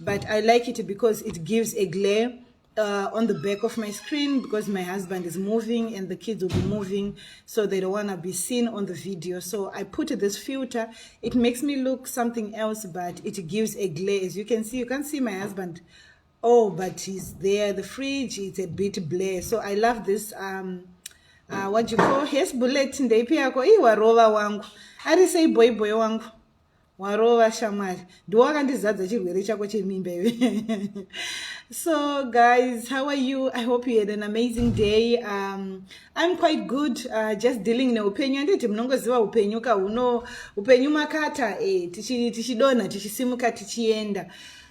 but I like it because it gives a glare uh, on the back of my screen because my husband is moving and the kids will be moving so they don't want to be seen on the video so i put this filter it makes me look something else but it gives a glare as you can see you can't see my husband oh but he's there the fridge it's a bit blare so i love this um uh, what you call yes bullet ndeipi yako iwarova wangu ari sei boy boy wangu warova shamwari ndiwo wakandizadza chirwere chako chemimba iwe so guys how are you i hope you had an amazing day um, i'm quite good uh, just dealing neupenyu anditi munongoziva upenyu ka huno upenyu makata e, tichidonha tichisimuka tichienda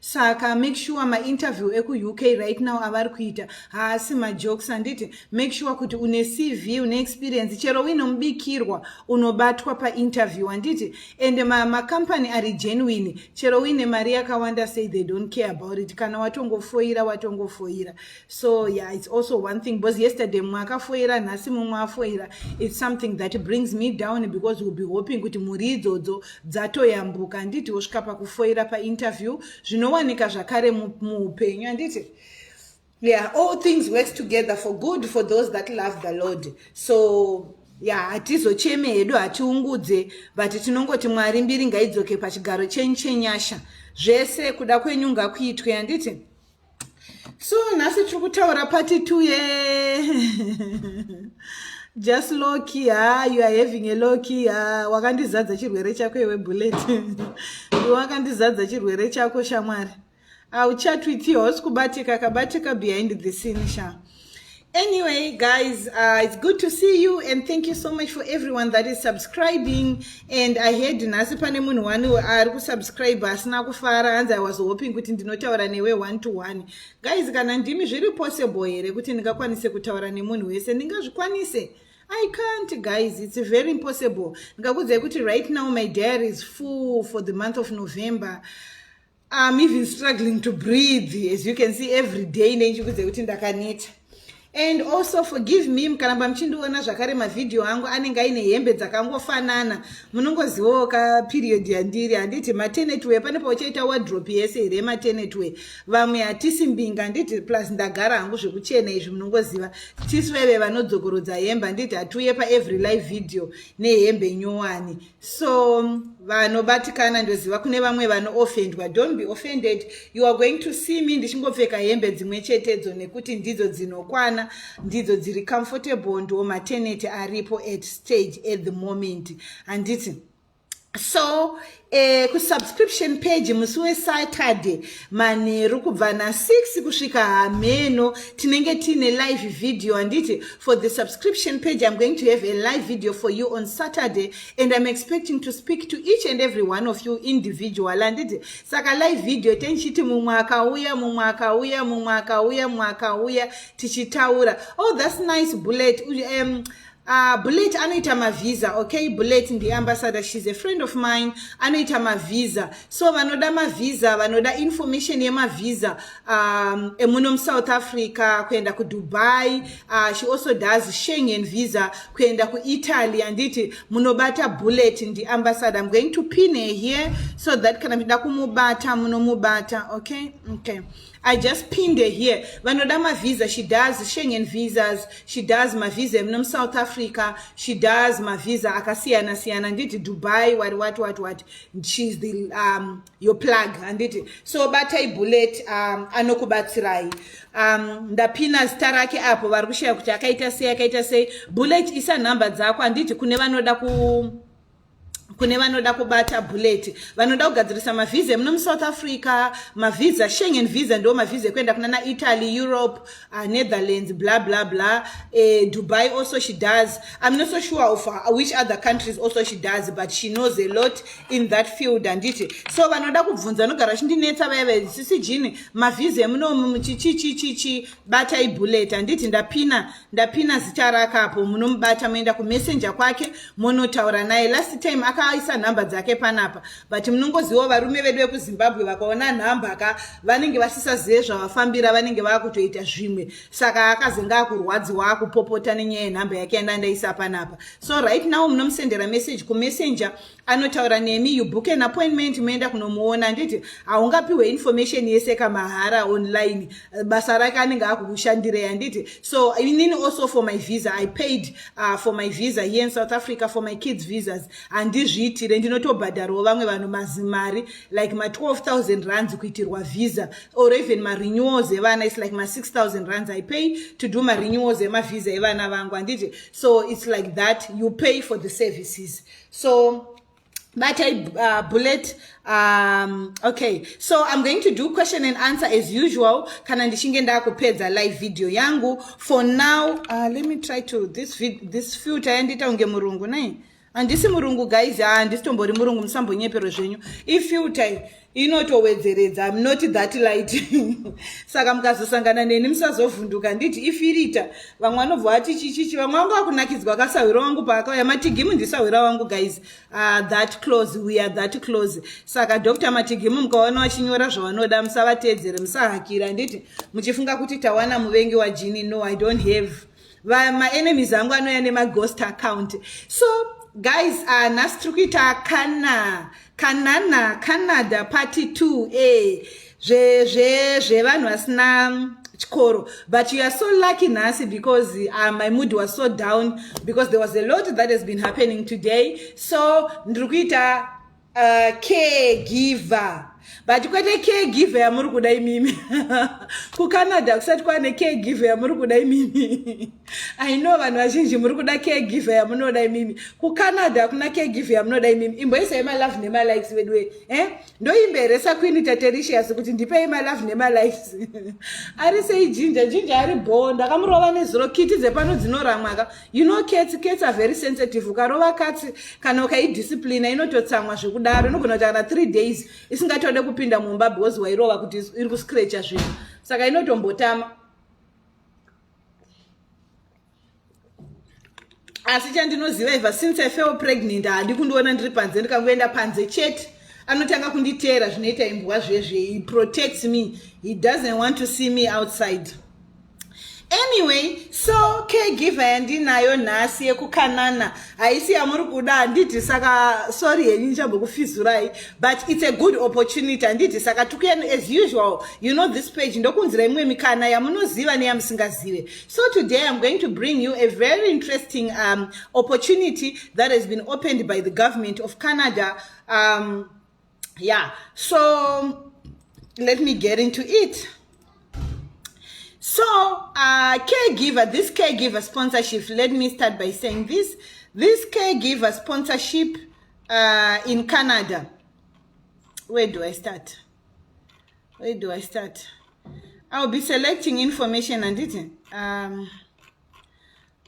saka make sure mainterview ekuuk right now avari kuita haasi majokes handiti make sure kuti une cv une experience chero uine mubikirwa unobatwa painterview handiti and macompany ma ari genuine chero uine mari yakawanda say they don't care about it kana watongofoira watongofoira so yeah it's also one thing because yesterday mumwe akafoira nhasi mumwe afoira it's something that brings me down because will be hoping kuti mhuri idzodzo dzatoyambuka handiti wosvika pakufoira painterview zvinowanika zvakare muupenyu handiti yeah all things works together for good for those that love the lord so ya hatizocheme hedu hatiungudze but tinongoti mwari mbiri ngaidzoke pachigaro chenyu chenyasha zvese kuda kwenyu ngakuitwe handiti so nhasi tiri kutaura pati two ye just loki ha you are having a loki ha wakandizadza chirwere chako iwe bullet wakandizadza chirwere chako shamwari auchatwitio hausi kubatika kabatika behind the scene shaa Anyway, guys, uh, it's good to see you and thank you so much for everyone that is subscribing. And I heard nhasi pane munhu wani ari kusubscribe asina kufara hanzi I was hoping kuti ndinotaura newe one to one. Guys, kana ndimi zviri possible here kuti ndingakwanise kutaura nemunhu wese ndingazvikwanise? I can't guys, it's very impossible. Ndikakudzai kuti right now my diary is full for the month of November. I'm even struggling to breathe as you can see every day nechikudze kuti ndakaneta and also forgive me mukaramba muchindiona zvakare mavhidhiyo angu anenge aine hembe dzakangofanana munongozivawo ka period yandiri handiti matenetway pane pauchaita wadrop yese here matenetway vamwe hatisi mbinga handiti plus ndagara hangu zvekuchena izvi munongoziva tisu vaive vanodzokorodza hembe handiti hatiuye paevery live video nehembe nyowani so vanobatikana ndoziva kune vamwe vanoofendwa don't be offended you are going to see me ndichingopfeka hembe dzimwe chetedzo nekuti ndidzo dzinokwana ndidzo dziri comfortable ndo mateneti aripo at stage at the moment handiti so eh, kusubscription page musi wesaturday manheru kubva na6 kusvika hameno tinenge tiine live video handiti for the subscription page im going to have a live video for you on saturday and im expecting to speak to each and every one of you individual handiti saka live video tenichiti mumwe akauya mumwe akauya mumwe akauya mumwe akauya tichitaura oh thats nice bullet um, Uh, bullet anoita mavhiza okay bullet ndiambassador shes a friend of mine anoita mavhiza so vanoda mavhiza vanoda information yemavhiza um, emuno musouth africa kuenda kudubai uh, she also does shengen visa kuenda kuitaly anditi munobata bullet ndiambassador im going to pin her here so that kana mchida kumubata munomubata okay okay I just pinned her here. Vanoda ma visa. She does Schengen visas. She does ma visa emuno South Africa. She does ma visa akasiyana siyana. Handiti Dubai what what what what. She's the um your plug handiti. So batai bullet um anokubatsirai. Um ndapina zita rake apo vari kushaya kuti akaita sei akaita sei. Bullet isa number dzako handiti kune vanoda ku kune vanoda kubata bullet vanoda kugadzirisa mavhiza emuno musouth africa mavhiza shengen vhiza ndo mavhiza ekuenda kuna na italy europe uh, netherlands bla bla bla uh, dubai also she does im not so sure of uh, which other countries also she does but she knows a lot in that field handiti so vanoda kubvunza vanogara vachindinetsa vaya vaisisi jini mavhiza emuno chichichichichi batai bullet handiti ndapina ndapina zita rake apo munomubata moenda kumessenje kwake monotaura naye last time akaisa nhamba dzake panapa but munongozivawo varume vedu vekuzimbabwe vakaona nhamba ka vanenge vasisazive zvavafambira vanenge vakutoita zvimwe saka akazenge akurwadziwa akupopota nenyaya yenhamba yake yanda ndaisa panapa so right now munomusendera message kumessenje anotaura nemi you book an appointment moenda kunomuona handiti haungapiwe information yese kamahara online basa rake anenge akukushandirei handiti so inini also for my visa i paid uh, for my visa here in south africa for my kids visas handizviitire ndinotobhadharawo vamwe vanhu mazimari like ma12000 rands kuitirwa visa or even marenewals evana is like ma6000 rands i pay to do marenewals emavisa evana vangu handiti so its like that you pay for the services so but I uh, bullet um okay so i'm going to do question and answer as usual kana ndichinge ndakupedza live video yangu for now uh, let me try to this vid this filter yandiita unge murungu nei handisi murungu guys handisitombori murungu musambonyeperwe zvenyu ifilter inotowedzeredza im not that light saka mukazosangana neni musazovhunduka nditi ifirita vamwe vanobva vati chichichi vamwe vanga vakunakidzwa kasahwira wangu paakauya matigimu ndisahwira wangu guys uh, that close we are that close saka dr matigimu mukaona vachinyora zvavanoda musavatedzere musahakira nditi muchifunga kuti tawana muvengi wajini no i don't have maenemies angu anouya nemaghost account so guys uh, nhasi tiri kuita kana kanana canada party two e zvevanhu vasina chikoro but you are so lucky nhasi because uh, my mood was so down because there was a lot that has been happening today so ndiri kuita Uh, caregiver but kwete caregiver yamuri kuda imimi kucanada kusati kwane caregiver yamuri kuda imimi i know vanhu vazhinji muri kuda caregiver yamunoda imimi kucanada hakuna caregiver yamunoda imimi imboisai malove nemalikes veduwe eh? ndoimbe here sakwini tatericious kuti ndipei malove nemalikes ari sei jinja jinja ari bhoo ndakamurova nezuro kiti dzepano dzinoramwaka you know cats cats are very sensitive ukarova katsi kana ukaidisciplina inototsamwa zvekudaro inogona kuti kana three days isingatode kupinda mumba because wairova kuti iri kuscratcha zvinhu saka inotombotama asi chandinoziva iva since i fell pregnant handi kundiona ndiri panze ndikangoenda panze chete anotanga kunditeera zvinoita imbwa zvezve he protects me he doesn't want to see me outside anyway so caregiver yandinayo nhasi yekukanana haisi yamuri kuda handiti saka sorry henyu ndichambokufizurai but its a good opportunity handiti saka tukuyanu as usual you know this page ndokunzira imwe mikana yamunoziva neyamusingazive so today iam going to bring you a very interesting um, opportunity that has been opened by the government of canada um, yeah so let me get into it so uh, caregiver this caregiver sponsorship let me start by saying this this caregiver sponsorship uh, in canada where do i start where do i start i'll be selecting information and it um,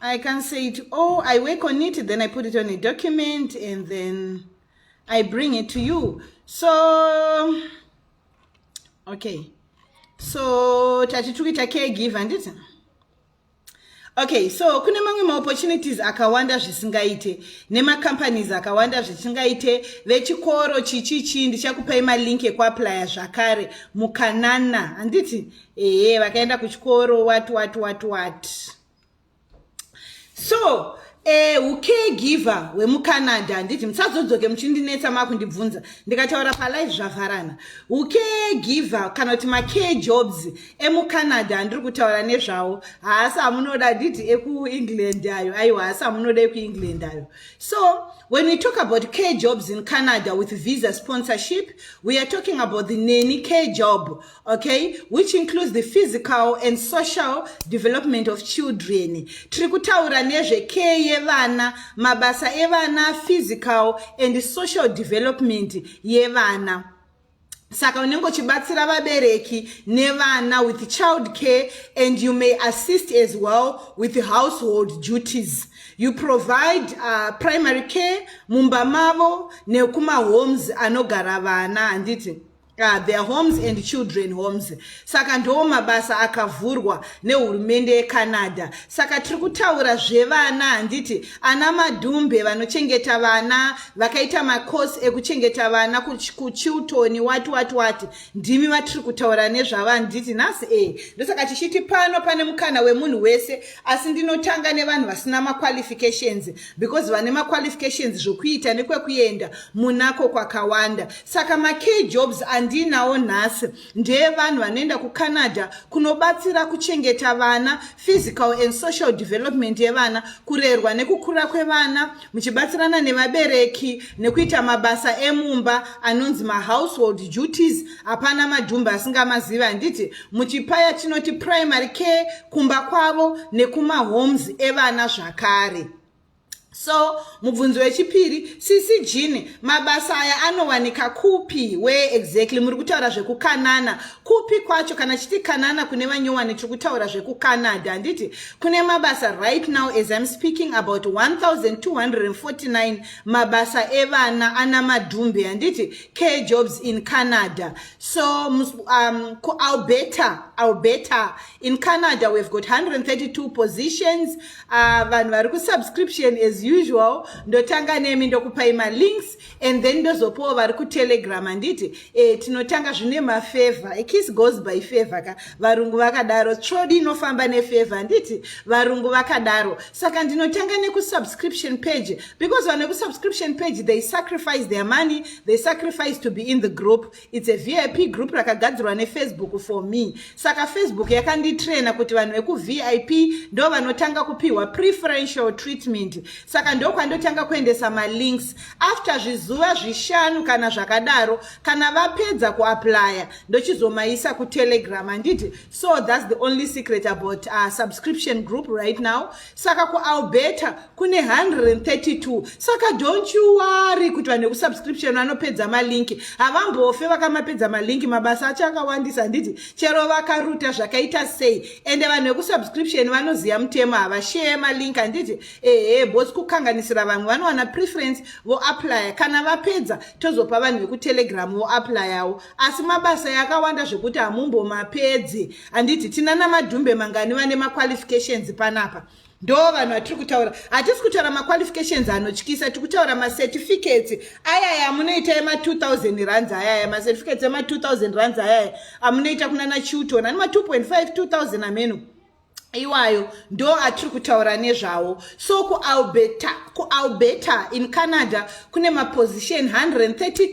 I can say it all. I work on it, then I put it on a document, and then I bring it to you. So, okay. So, tati tukuita caregiver, handiti? okay so kune mamwe maopportunities akawanda zvisingaite nemacompanies akawanda zvisingaite vechikoro chichichi ndichakupai malink ekuaplya zvakare mukanana handiti ehe vakaenda kuchikoro wat wat wat wat, wat. so eh, ucaregiver wemucanada handiti musazodzoke muchindinetsa makundibvunza ndikataura palive zvavharana ucaregiver kana kuti macare jobs emucanada andiri kutaura nezvawo haasi amunoda handiti ekuengland ayo aiwa haasi amunoda ekuengland ayo so when we talk about care jobs in canada with visa sponsorship we are talking about the neni care job okay which includes the physical and social development of children tiri kutaura nezvekee yevana mabasa evana physical and social development yevana saka unenge uchibatsira vabereki nevana with child care and you may assist as well with household duties you provide uh, primary care mumba mavo nekumahomes anogara vana handiti Uh, their homes and children homes saka ndoo mabasa akavhurwa nehurumende yecanada saka tiri kutaura zvevana handiti ana madhumbe vanochengeta vana vakaita macourse ekuchengeta vana kuchiltoni wati wati wati ndimi vatiri kutaura nezvavo handiti nhasi e eh, ndosaka tichiti pano pane mukana wemunhu wese asi ndinotanga nevanhu vasina maqualifications because vane maqualifications zvokuita nekwekuenda munako kwakawanda saka makey jobs andiinawo nhasi ndeevanhu vanoenda kucanada kunobatsira kuchengeta vana physical and social development yevana kurerwa nekukura kwevana muchibatsirana nevabereki nekuita mabasa emumba anonzi mahousehold duties hapana madhumba asingamazivi handiti Muchipaya chinoti primary care kumba kwavo nekumahomes evana zvakare. So mubvunzo wechipiri sisi Jean mabasa aya anowanika kupi where exactly muri kutaura zvekukanana kupi kwacho kana chiti kanana kune vanyowani tiri kutaura zvekucanada handiti kune mabasa right now as I'm speaking about 1249 mabasa evana ana madhumbe handiti care jobs in Canada So, um, Alberta, Alberta, in Canada, we've got 132 positions. Uh, vanhu vari kusubscription as usual. Ndotanga nemi ndokupai malinks and then ndozopawo vari kutelegram handiti. Eh, tinotanga zvine mafavor. A kiss goes by favor ka. Varungu vakadaro. Trodi inofamba nefavor handiti. Varungu vakadaro. Saka ndinotanga nekusubscription page because vane kusubscription page, they sacrifice their money. they sacrifice to be in the group its a vip group rakagadzirwa nefacebook for me saka facebook yakanditraina kuti vanhu vekuvip ndo vanotanga kupihwa preferential treatment saka ndokwandotanga kuendesa malinks after zvizuva zvishanu kana zvakadaro kana vapedza kuaplya ndochizomaisa kutelegram handiti so thats the only secret about uh, subscription group right now saka kualberta kune 132 saka don't you worry kuti vanhu vekusubscription vanopedza malinki havambofe vakamapedza malinki mabasa acho akawandisa handiti chero vakaruta zvakaita sei ende vanhu vekusubscription vanoziva mutemo havasheye malinki handiti ehe bosi kukanganisira vamwe vanowana preference voaplya kana vapedza tozopa vanhu vekutelegram voaplyawo asi mabasa yakawanda zvekuti hamumbomapedzi handiti tinana madhumbe mangani vane maqualifications panapa ndo vanhu vatiri kutaura hatisi kutaura maqualifications anotyisa tiri kutaura macertificates ayaya amunoita ema 2000 runs ayaya macertificates ema 2000 runs ayaya amunoita kunana chilton ani ma 2.5 2000 ameno iwayo ndo atiri kutaura nezvawo so kualberta kualberta in canada kune maposition 132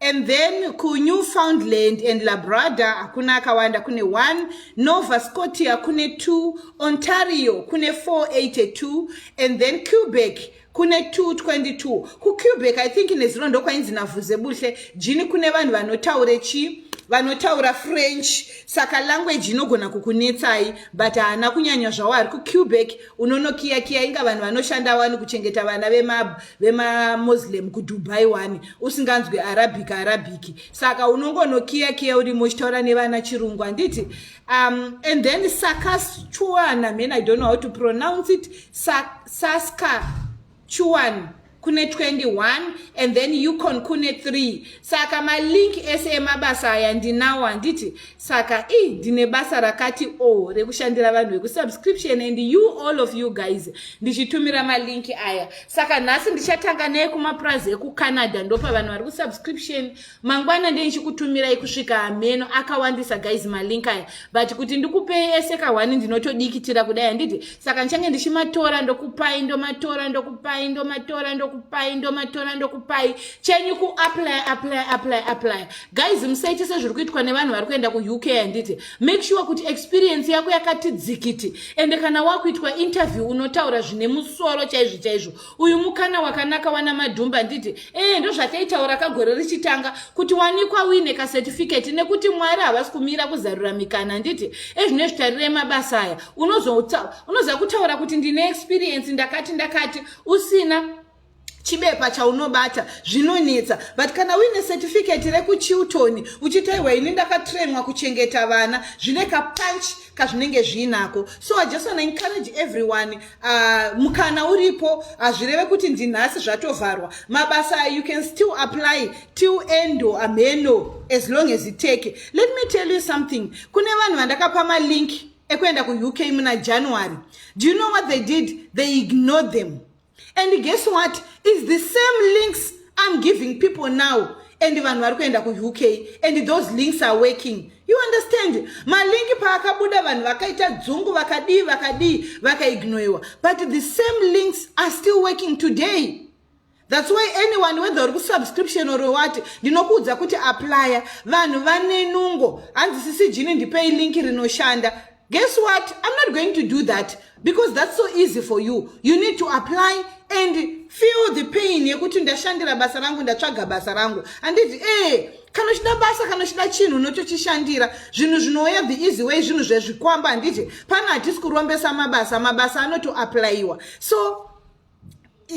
and then kunewfoundland and labrada hakuna akawanda kune 1 nova scotia kune 2 ontario kune 482 and then cubeck kune 222 kucubeck i think nezuro ndokwainzi navhuze buhle jini kune vanhu vanotaure chii vanotaura french saka language inogona kukunetsai but haana kunyanya zvawo ari kucubeck unonokiyakiya inga vanhu vanoshanda wani kuchengeta vana vemabhu vemamoslem kudubai wani usinganzwi arabic arabic saka unongonokiya kiya urimo uchitaura nevana chirungu handiti um, and then sakachuan i mean i don't know how to pronounce it Sa saska chuan kune 21 and then ucon kune 3 saka malink ese emabasa aya ndinawo handiti saka i ndine basa rakati o oh, rekushandira vanhu vekusubscription and you all of you guys ndichitumira malinki aya saka nhasi ndichatanga neye kumapurazi ekucanada ndopa vanhu vari kusubscription mangwana ndee ndichikutumirai kusvika hameno akawandisa guys malinki aya but kuti ndikupei ese kahwani ndinotodikitira kudai handiti saka ndichange ndichimatora ndokupai ndomatora ndokupai ndomatora ndokupai ndomatora ndokupai chenyu kuapply apply apply apply guys musaite sezviri kuitwa nevanhu vari kuenda kuuk handiti make sure kuti experience yako yakati dzikiti ende kana wakuitwa interview unotaura zvine musoro chaizvo chaizvo uyu mukana wakanaka wana madhumba handiti ee ndozvataitaura kagore richitanga kuti wanikwa wine kacertificate nekuti mwari havasi kumira kuzarura mikana handiti ezvine zvitarirei mabasa aya unozoza kutaura kuti ndine experience ndakati ndakati usina chibepa chaunobata zvinonetsa but kana uine certificate rekuchilton uchiti aiwa ini ndakatrainwa kuchengeta vana zvine kapunch kazvinenge zviinako so i just wanna encourage everyone uh, mukana uripo hazvireve uh, kuti ndinhasi zvatovharwa mabasa you can still apply till end or ameno as long as it take let me tell you something kune vanhu vandakapa malink ekuenda kuuk muna january do you know what they did they ignored them and guess what is the same links i'm giving people now and vanhu vari kuenda kuuk and those links are working you understand malinki paakabuda vanhu vakaita dzungu vakadii vakadii vakaignoiwa but the same links are still working today thats why anyone whether uri kusubscription or wati ndinokuudza kuti applya vanhu vanenungo hanzi sisi jini ndipei linki rinoshanda Guess what? I'm not going to do that because that's so easy for you. You need to apply and feel the pain yekuti ndashandira basa rangu ndatsvaga basa rangu handiti ee eh, kana uchida basa kana uchida chinhu unotochishandira zvinhu zvinouya the easy way zvinhu zvezvikwamba handiti pana hatisi kurombesa mabasa mabasa anotoaplayiwa so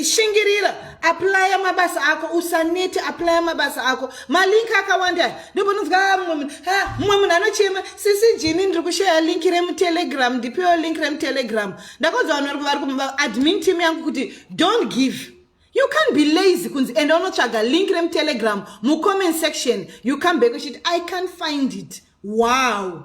shingirira aplya mabasa ako usanete aplya mabasa ako malink akawanda ndobononzwa ah, mumwe munhu ah, mumwe munhu anochema sisi jini ndiri kushaya link remutelegram ndipiwo link remutelegram ndakonza vanhu vari kuadmin team yangu kuti don't give you can't be lazy kunzi enda unotsvaga link remutelegram mucomment section you come back uchiti i can't find it wow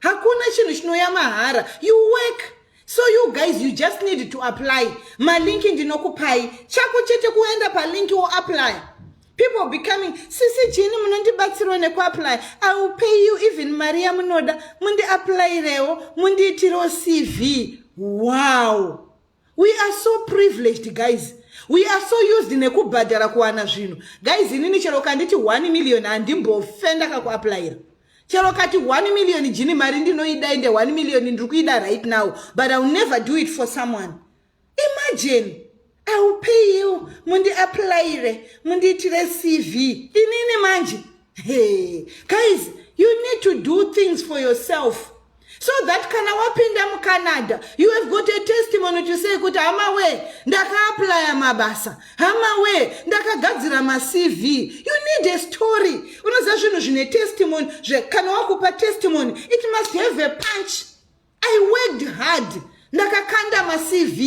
hakuna chinhu chinoya mahara you work so you guys you just need to apply malinki ndinokupai chako chete kuenda palinki woapply people becoming sisi jini munondibatsirwa nekuapply i will pay you even mari yamunoda mundiapplyrewo mundiitirewo cv wow we are so privileged guys we are so used nekubhadhara kuwana zvinhu guys inini chero kanditi 1 million handimbofe ndakakuaplayira chero kati 1 million jini mari ndinoida ende 1 million ndiri kuida right now but iwill never do it for someone imagine iwill pay you mundiaplayire mundiitire cv inini manje hey guys you need to do things for yourself so that kana wapinda mucanada you have got a testimony to say kuti hama wee ndakaaplya mabasa hama wee ndakagadzira macv you need a story unoziva zvinhu zvine testimony kana wakupa testimony it must have a punch i worked hard ndakakanda macv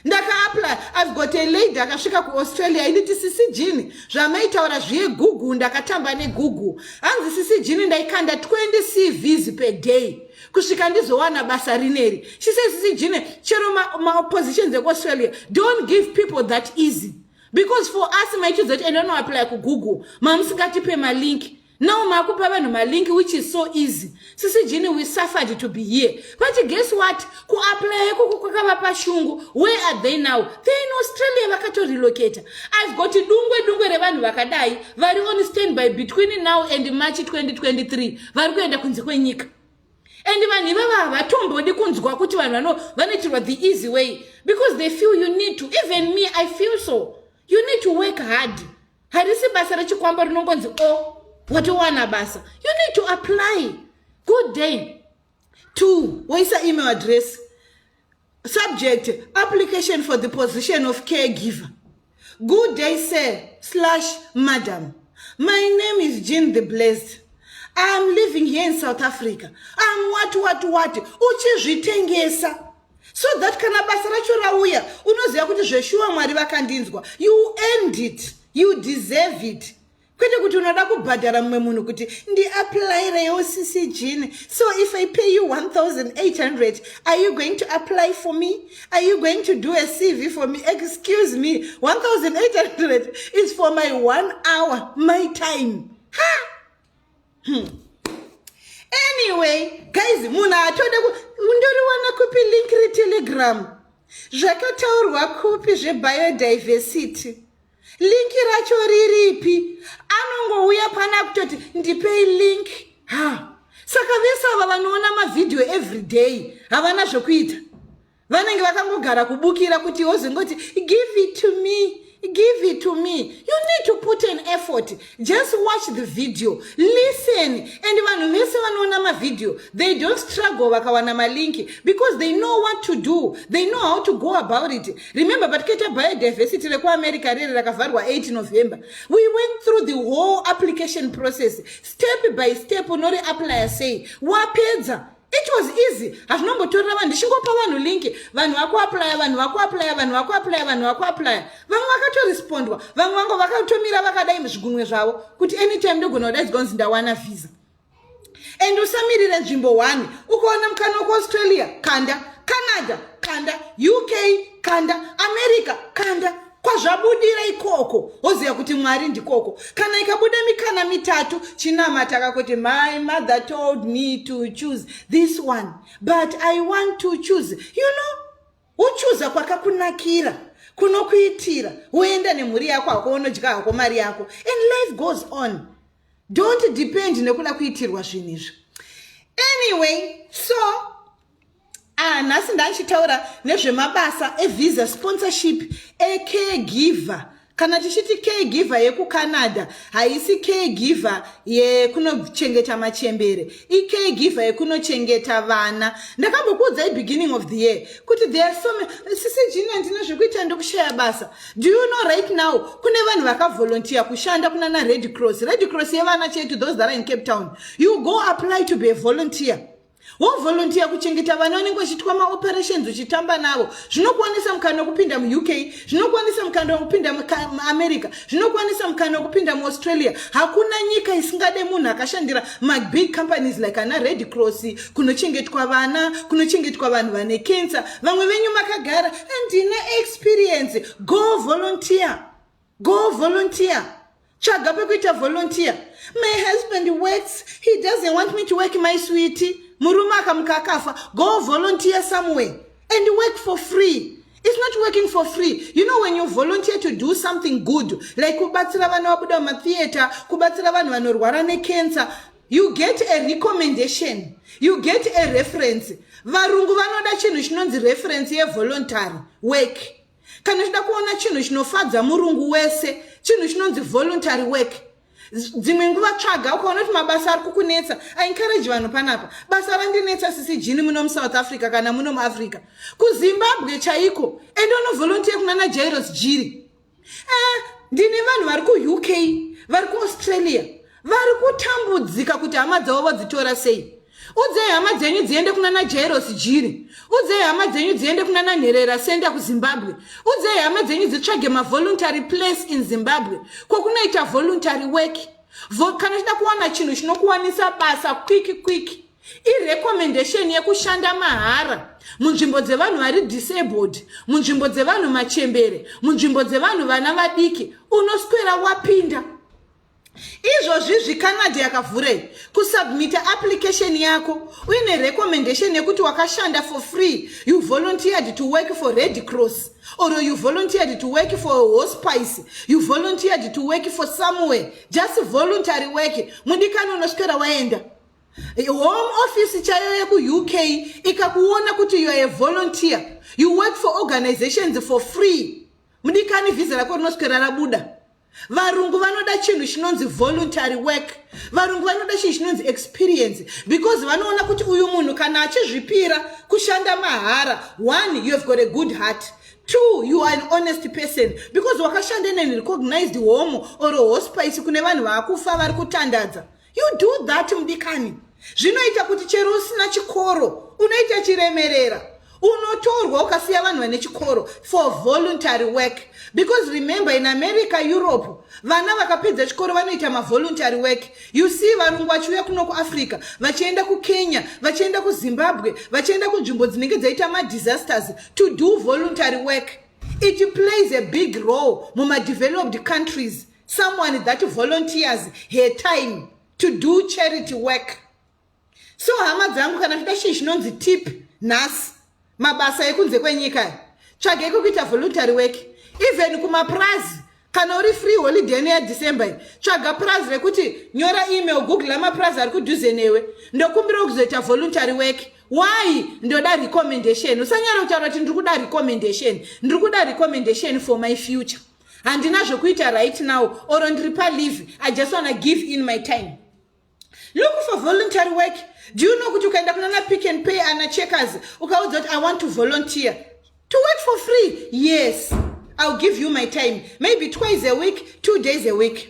ndakaapply i've got a lady akasvika kuaustralia initi sisi jini zvamaitaura zviye google ndakatamba negoogle hanzi sisi jini ndaikanda 20 cvs per day kusvika ndizowana basa rineri she says sisi jini chero maoppositions ma ekuaustralia don't give people that easy because for us maichiudza kuti enda unoapply kugoogle mamusingatipe malink now makupa vanhu malink which is so easy sisi jini we suffered to be here but guess what kuaplaya kuku kwakava pashungu where are they now they in australia vakatorelocata i've got dungwe dungwe revanhu vakadai vari on stand by between now and march 2023 vari kuenda kunze kwenyika and vanhu ivava havatombodi kunzwa kuti vanhu vanoitirwa the easy way because they feel you need to even me i feel so you need to work hard harisi basa rechikwambo rinongonzi o oh, watowana basa you need to apply good day two woisa email address subject application for the position of caregiver good day sir slash madam my name is jean the blessed iam living here in south africa am what what what uchizvitengesa so that kana basa racho rauya unoziva kuti zveshuwa mwari vakandinzwa you end it you deserve it kwete kuti unoda kubhadhara mumwe munhu kuti ndiapplyreiwo sisi jini so if i pay you 1800 are you going to apply for me are you going to do a cv for me excuse me 1800 is for my one hour my time ha hmm. anyway guys munhu atoda ndoriwana kupi link retelegram zvakataurwa kupi zvebiodiversity linki racho riripi anongouya pana kutoti ndipei link ha saka vese ava vanoona mavhidhiyo everyday havana zvokuita vanenge vakangogara kubukira kuti wozongoti give it to me give it to me you need to put an effort just watch the video listen and vanhu vese vanoona mavideo they don't struggle vakawana malinki because they know what to do they know how to go about it remember patikaita biodiversity rekuamerica riri rakavharwa 8 november we went through the whole application process step by step unori applya sei wapedza it was easy hazvinongotorera vanhu ndichingopa vanhu linki vanhu vakuaplya vanhu vakuaplya vanhu vakuaplya vanhu vakuaplya vamwe vakatorespondwa vamwe vango vakatomira vakadai muzvigunwe zvavo kuti anytime ndogona kudaidzwa kunzi ndawana visa and usamirire nzvimbo one ukaona mukana wekuaustralia kanda canada kanda uk kanda america kanda kwazvabudira ikoko woziva kuti mwari ndikoko kana ikabuda mikana mitatu chinamata kakuti my mother told me to choose this one but i want to choose you know wochuza kwakakunakira kunokuitira woenda nemhuri yako hako wonodya hako mari yako and life goes on don't depend nekuda kuitirwa zvinhu izvi anyway so Ah, nhasi ndachitaura nezvemabasa evisa sponsorship ecaregiver kana tichiti caregiver yekucanada haisi caregiver yekunochengeta machembere icaregiver yekunochengeta vana ndakambokuudzai beginning of the year kuti there are so sisi jini handina zvekuita ndokushaya basa do you know right now kune vanhu vakavolontiya kushanda kunana red cross red cross yevana chetu those that are in cape town you go apply to be a volunteer wovolontiya kuchengeta vana unenge uchitwa maoperations uchitamba navo zvinokuwanisa mukana wekupinda muuk zvinokuwanisa mukana wekupinda muamerica zvinokuwanisa mukana wekupinda muaustralia hakuna nyika isingade munhu akashandira mabig companies like ana red cross kunochengetwa vana kunochengetwa vanhu vane cancer vamwe venyu makagara andina experience go volontiya go volunteer tsvaga pekuita volunteer my husband works he doesn't want me to work my sweety murume akamuka akafa go volunteer somewhere and work for free It's not working for free. You know, when you volunteer to do something good, like kubatsira vana vabuda mumatheatre, kubatsira vanhu vanorwara necancer, you get a recommendation you get a reference varungu vanoda chinhu chinonzi reference yevoluntary work kana uchida kuona chinhu chinofadza murungu wese chinhu chinonzi voluntary work dzimwe nguva tsvaga ukaona kuti mabasa ari kukunetsa aencourage vanhu panapa basa randinetsa sisi jini muno musouth africa kana muno muafrica kuzimbabwe chaiko ende unovolontiya kuna najairos jiri eh, ndine vanhu vari kuuk vari kuaustralia vari kutambudzika kuti hama dzavo vodzitora sei udzei hama dzenyu dziende kuna najairosi jiri udzei hama dzenyu dziende kuna nanherera senda kuzimbabwe udzei hama dzenyu dzitsvage mavoluntary place in zimbabwe kwokunoita voluntary work Vo, kana uchida kuwana chinhu chinokuwanisa basa kwiki kwiki irecommendation yekushanda mahara munzvimbo dzevanhu vari disabled munzvimbo dzevanhu machembere munzvimbo dzevanhu vana vadiki unoswera wapinda izvozvizvi canada yakavhurei kusubmita application yako uine recommendation yekuti wakashanda for free you volunteered to work for red cross or you volunteered to work for hospice you volunteered to work for somewhere just voluntary work mundikani unoswera waenda home office chaiyo yekuuk ikakuona kuti youare a volunteer you work for organizations for free mudikani vhiza rako rinoswera rabuda varungu vanoda chinhu chinonzi voluntary work varungu vanoda chinhu chinonzi experience because vanoona kuti uyu munhu kana achizvipira kushanda mahara one you have got a good heart two you are an honest person because wakashanda in an recognized home or hospice kune vanhu vaakufa vari kutandadza you do that mudikani zvinoita kuti chero usina chikoro unoita chiremerera unotorwa ukasiya vanhu vane chikoro for voluntary work because remember in america europe vana vakapedza chikoro vanoita mavoluntary work you see varungu vachiuya kuno kuafrica vachienda kukenya vachienda kuzimbabwe vachienda kunzvimbo dzinenge dzaita madisasters to do voluntary work it plays a big role mumadeveloped countries someone that volunteers her time to do charity work so hama dzangu kana zvida chii chinonzi tip nhasi mabasa ekunze kwenyika tsvagei kwekuita voluntary work even kumapurazi kana uri free holiday neya december iyi tsvaga purazi rekuti nyora email google amapurazi ari kudhuze newe ndokumbira kuzoita voluntary work why ndoda recommendation usanyara kutaura kuti ndiri kuda recommendation ndiri kuda recommendation for my future handina zvekuita right now or ndiri palive i just wanna give in my time look for voluntary work do you know kuti ukaenda kunana pick and pay ana checkers ukaudza kuti i want to volunteer to work for free yes ill give you my time maybe twice a week two days a week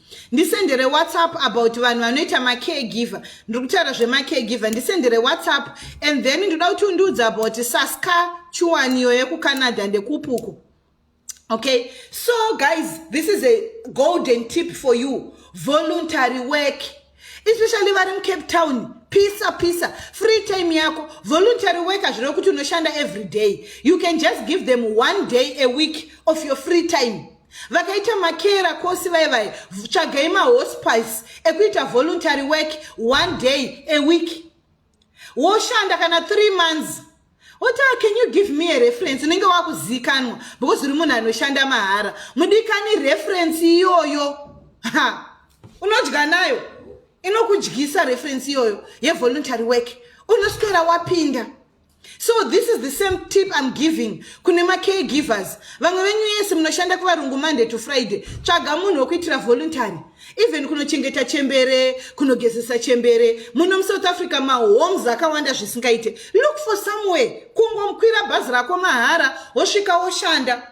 ndisendere whatsapp about vanhu vanoita macaregiver ndiri kutaura zvemacaregiver ndisendere whatsapp and then ndoda kuti undiudza about saska chuwaniyo yekucanada ndekupuko okay so guys this is a golden tip for you voluntary work especially vari mucape town pisa pisa free time yako voluntary worker zvireve kuti unoshanda every day you can just give them one day a week of your free time vakaita makera kosi vai vai tsvagai mahospice ekuita voluntary work one day a week woshanda kana three months oti ah, can you give me a reference unenge wakuzikanwa because uri munhu anoshanda mahara mudikani reference iyoyo ha unodya nayo inokudyisa reference iyoyo yevoluntary work unoswera wapinda so this is the same tip i'm giving kune macare givers vamwe venyu yese munoshanda kuvarungu monday to friday tsvaga munhu wekuitira voluntary even kunochengeta chembere kunogezesa chembere muno musouth africa mahomes akawanda zvisingaite look for somewhere kungomukwira bhazi rako mahara wosvika woshanda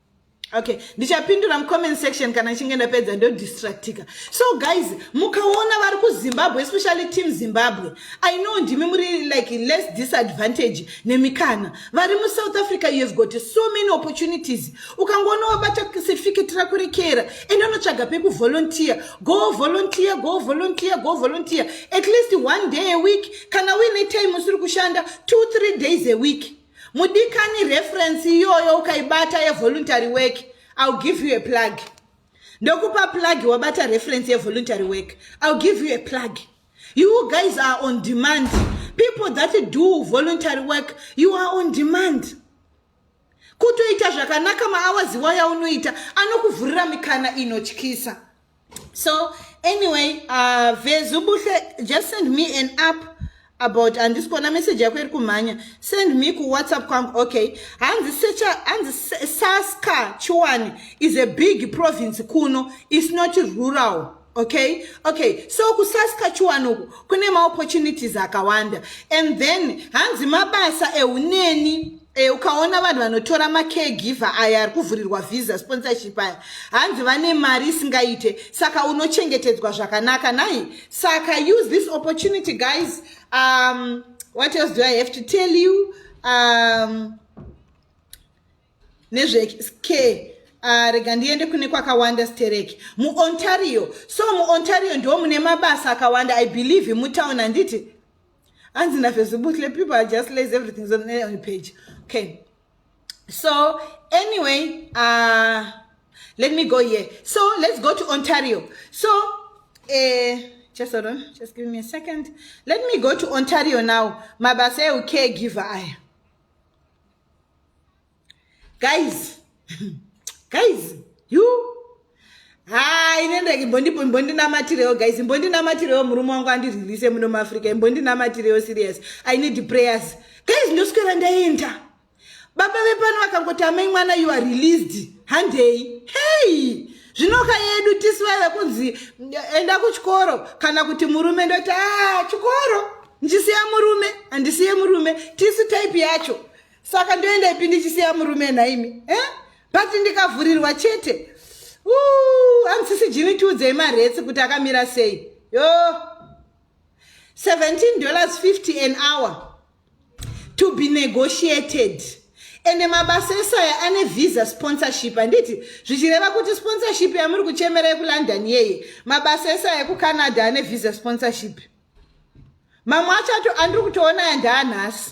okay ndichapindura mucomment section kana ichinge ndapedza ndodistractika so guys mukaona vari kuzimbabwe especially team zimbabwe i know ndimi muri like less disadvantage nemikana vari musouth africa you have got so many opportunities ukangoona wabata certificate rako rekera ende unotsvaga pekuvolunteer go volunteer go volunteer go volunteer at least one day a week kana uine time usiri kushanda two three days a week mudikani reference iyoyo ukaibata yevoluntary work ill give you a plug ndokupa plug wabata reference yevoluntary work ill give you a plug you guys are on demand people that do voluntary work you are on demand kutoita zvakanaka maawaziwa yaunoita anokuvhurira mikana inotyisa so anyway uh, vezubuhle just send me an app about handisi kuona message yako iri kumhanya send me kuwhatsapp kwangu okay hanzi secha hanzi saska chiwani is a big province kuno is not rural okay okay so kusaska chiwani uku kune maopportunities akawanda and then hanzi mabasa euneni E, ukaona vanhu vanotora macaregiver aya ari kuvhurirwa visa sponsorship aya hanzi vane mari isingaite saka unochengetedzwa zvakanaka nai saka use this opportunity guys um, what else do i have to tell you um, nezvecare Ah, rega ndiende kune kwakawanda stereki muontario so muontario ndiwo mune mabasa akawanda i believe mutown handiti hanzi nafezibuhle people are just lazy everything is on the page okay so anyway uh, let me go here so let's go to ontario so uh, just hold on just give me a second let me go to ontario now mabasa eucaregiver aya guys guys you haa ine ndege imbondinamatirewo guys imbondinamatirewo murume wangu andiriririse muno muafrica imbondinamatirewo serious i need prayers guys ndoswera ndaenda baba vepano vakangoti amai mwana you are released handei hei zvinoka yedu tisu vaive kunzi enda kuchikoro kana kuti murume ndoti a ah, chikoro ndisiya murume handisiye murume tisu type yacho saka ndoenda ipi ndichisiya murume nhaimi eh? but ndikavhurirwa chete hamusisi jini tiudzei maretsi kuti akamira sei yo 17 dollars 50 an hour to be negotiated ende mabasa esaya ane visa sponsorship handiti zvichireva kuti sponsorship yamuri kuchemera yekulondon yeye mabasa esaya ekucanada ane visa sponsorship mamwe acho ato andiri kutoona yandaanhasi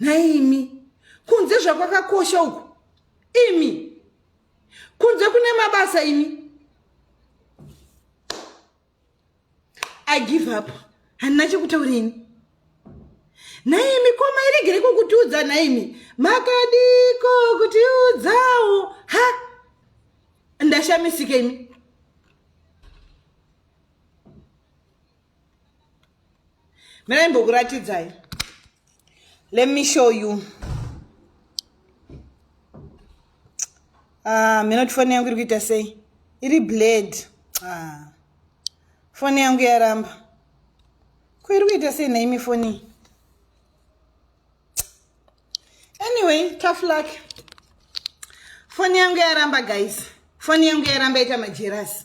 nhaimi kunze zvakwakakosha uku imi kunze kune mabasa imi i give up handina chekutaurini nhaimi ko mairegere kokutiudza nhaimi makadiko kutiudzawo ha ndashamisika imi Miraimbokuratidzai. Let me show you. Ah, mina tifone yangu iri kuita sei? Iri blade. Ah. Fone yangu yaramba. Ko iri kuita sei naimi foni? Anyway, tough luck. Foni yangu yaramba guys. Foni yangu yaramba ita majerasi.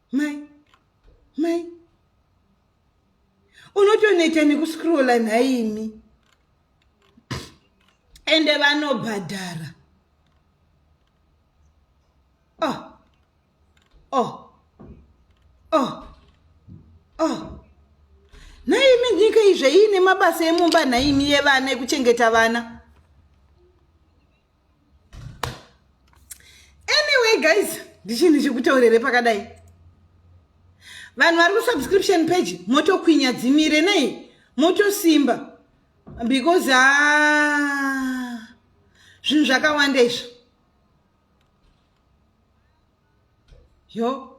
mai mai unotoneta nekuscrolla nhaimi ende vanobhadhara oh oh oh oh nhaimi nyika izve iine mabasa emumba nhaimi yevana ekuchengeta vana anyway guys ndichii ndichikutaurire pakadai vanhu vari kusubscription page motokwinya dzimire nei motosimba because a ah, zvinhu zvakawanda izvo yo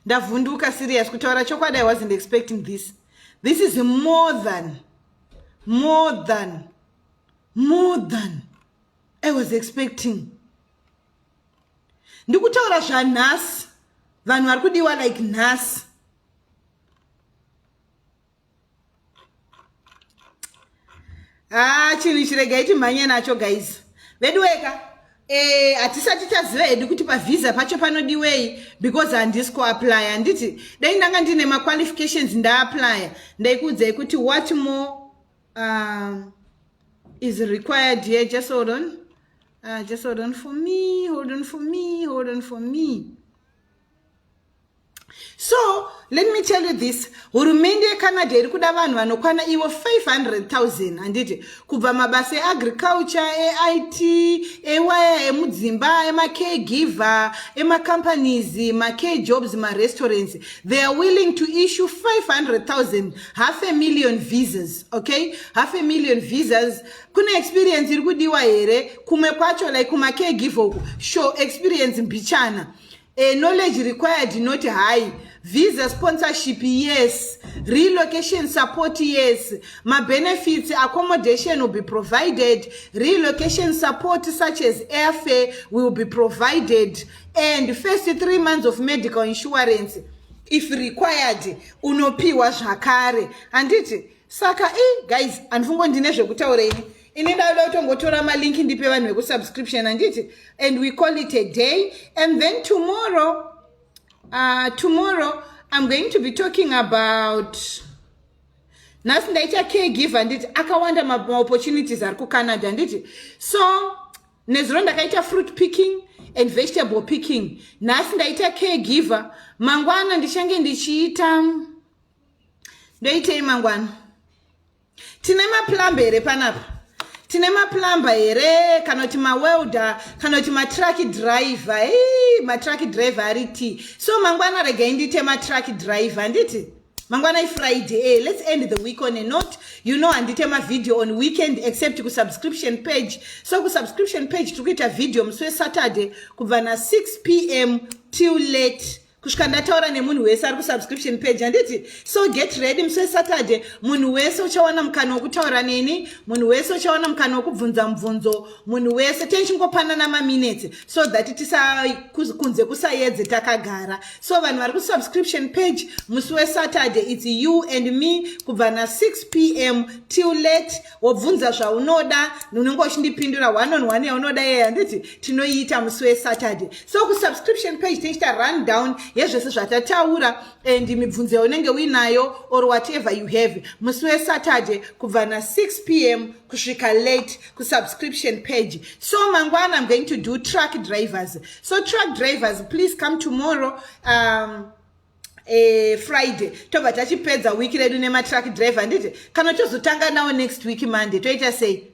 ndavhunduka serious kutaura chokwadi i wasn't expecting this this is more than more than more than i was expecting ndikutaura zvanhasi vanhu vari kudiwa like nhasi haa ah, chinhu chiregai timhanye nacho guys veduweka eh, hatisati e, chaziva hedu kuti pavhiza pacho panodiwei because handisi kuaplya handiti dai ndanga ndine maqualifications ndaaplya ndaikuudzai kuti what more uh, is required here just hold on uh, just hold on for me hold on for me hold on for me so let me tell you this hurumende yecanada iri kuda vanhu vanokwana ivo 500000 handiti kubva mabasa eagriculture eit ewaya emudzimba emacare giver emacompanies macare jobs marestaurants they are willing to issue 500000 half a million visas okay half a million visas kune experience iri kudiwa here kumwe kwacho like kumacare giver uku show experience mbichana A knowledge required not high visa sponsorship yes relocation support yes mabenefits accommodation will be provided relocation support such as airfare will be provided and first three months of medical insurance if required unopiwa zvakare handiti saka i guys handifungo ndine zvekutaura ini ini ndauda kutongotora malink ndipe vanhu vekusubscription handiti and we call it a day and then tomorrow uh, tomorrow i'm going to be talking about nhasi ndaita caregiver handiti akawanda maopportunities ari kucanada handiti so nezuro ndakaita fruit picking and vegetable picking nhasi ndaita caregiver mangwana ndichange ndichiita ndoitei mangwana tine maplamba here panapa tine maplamba here kana kuti mawelder kana kuti matruck driver hey, matruck driver ari ti so mangwana regai ndiite matruck driver handiti mangwana ifriday hey, eh, let's end the week on a note you know handite mavhideo on weekend except kusubscription page so kusubscription page tiri kuita vhideo musi wesaturday kubva na6 p m till late kusvika ndataura nemunhu wese ari kusubscription page handiti so get ready musi wesaturday munhu wese uchawana mukana wokutaura neni munhu wese uchawana mukana wokubvunza mubvunzo munhu wese tenchingopanana maminutes so that tisakunze kusayedze takagara so vanhu vari kusubscription page musi wesaturday its you and me kubva na6 p m till late wobvunza zvaunoda unenge uchindipindura one on one yaunoda iye handiti tinoiita musi wesaturday so kusubscription page tinoita run down yezvese zvatataura and mibvunzo yaunenge uinayo or whatever you have musi wesaturday kubva na6 p m kusvika late kusubscription page so mangwana im going to do truck drivers so truck drivers please come tomorrow um, eh, friday tobva tachipedza week redu nematruck driver handiti kana tozotanga nawo next week monday toita sei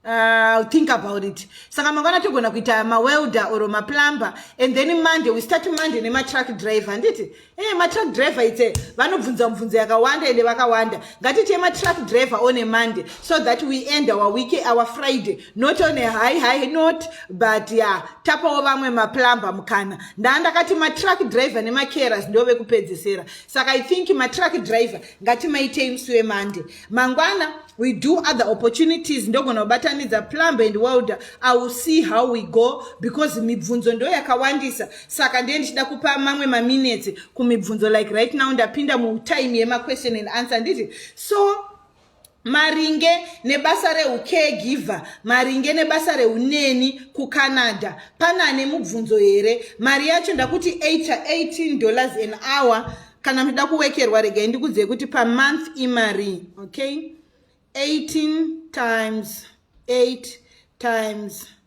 Uh, think about it saka mangwana togona kuita mawelder or maplumber and then monday we start monday nematruck driver handiti e eh, matruck driver itse vanobvunza mubvunzo yakawanda ende vakawanda ngatiti yematruck driver on a monday so that we end our week our friday not on a high high note but ya yeah, tapawo vamwe maplumber mukana ndaa ndakati matruck driver nemacaras ndove kupedzesera saka i think matruck driver ngatimaitei musi wemonday mangwana we do other opportunities ndogona kubatanidza plumber and welder i will see how we go because mibvunzo ndo yakawandisa saka ndiye ndichida kupa mamwe maminutes kumibvunzo like right now ndapinda mutime yemaquestion and answer nditi so maringe nebasa reucaregiver maringe nebasa reuneni kucanada pane ane mubvunzo here mari yacho ndakuti 18 dollars an hour kana muchida kuwekerwa regai ndikudzei kuti pamonth imari okay 18 times 8 times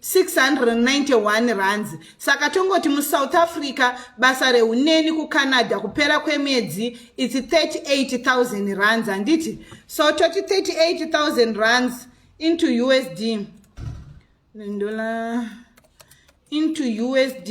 691 rands saka tongoti musouth africa basa reuneni kucanada kupera kwemwedzi its 38000 rands handiti so toti 38000 rands into usd ndola into usd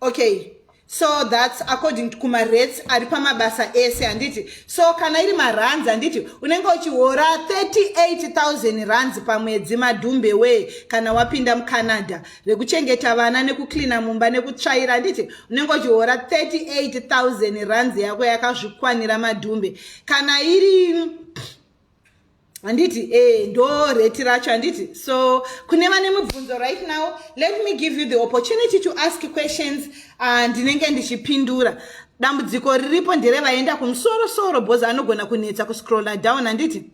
okay so thats according to kumarates ari pamabasa ese handiti so kana iri marands handiti unenge uchihora 38000 rands pamwedzi madhumbe wee kana wapinda mucanada rekuchengeta vana nekucleana mumba nekutsvaira handiti unenge uchihora 38000 rands yako yakazvikwanira madhumbe kana iri handiti e ndo rate racho handiti so kune vane mubvunzo right now let me give you the opportunity to ask questions ah, ndinenge uh, ndichipindura dambudziko riripo ndere vaenda kumusoro soro bhozi anogona kunetsa kuscrolla down handiti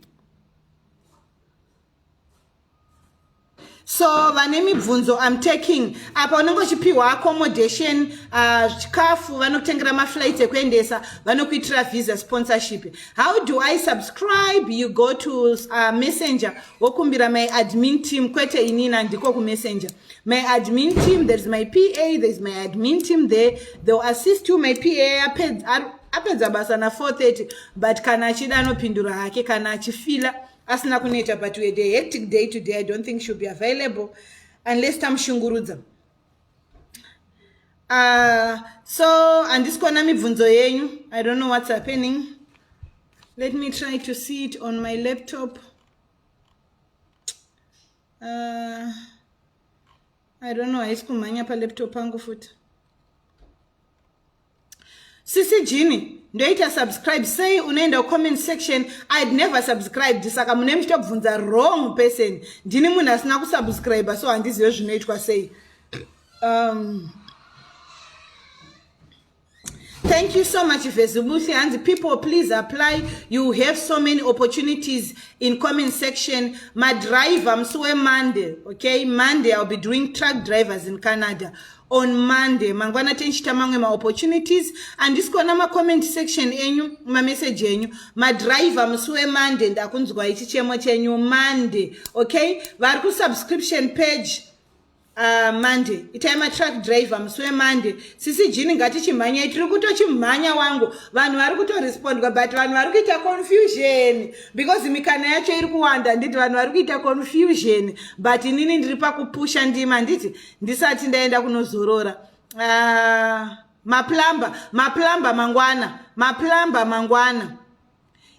so vane mibvunzo im taking apa unenge uchipiwa accommodation uh, chikafu vanokutengera maflights ekuendesa vanokuitira visa sponsorship how do i subscribe you go to uh, messenger wokumbira my admin team kwete inina ndiko kumessenger my admin team there's my pa there's my admin team there they'll assist you my pa apedza basa na 430 but kana achida anopindura hake kana achifila asina kuneta but we had a hectic day today i don't think she'll be available unless tamushungurudza uh, so handisi kuona mibvunzo yenyu i don't know what's happening let me try to see it on my laptop uh, i don't know haisi kumhanya palaptop angu futi sisi jini ndoita subscribe sei unoenda comment section i'd never subscribed saka mune muchitobvunza wrong person ndini munhu asina kusubscribe so handizive zvinoitwa sei um, thank you so much vezibusi hanzi people please apply you have so many opportunities in comment section madriver musi wemonday okay monday i'll be doing truck drivers in canada on monday mangwana tinchita mamwe maopportunities handisi kuona macomment section enyu mameseji enyu madriver musi wemonday ndakunzwai chichemo chenyu monday okay vari kusubscription page Uh, monday itai matruck driver musi wemonday sisi jini ngatichimhanyai tiri kutochimhanya wangu vanhu vari kutorespondwa but vanhu vari kuita confusion because mikana yacho iri kuwanda handiti vanhu vari kuita confusion but inini ndiri pakupusha ndima handiti ndisati ndaenda kunozorora uh, maplamba maplamba mangwana maplamba mangwana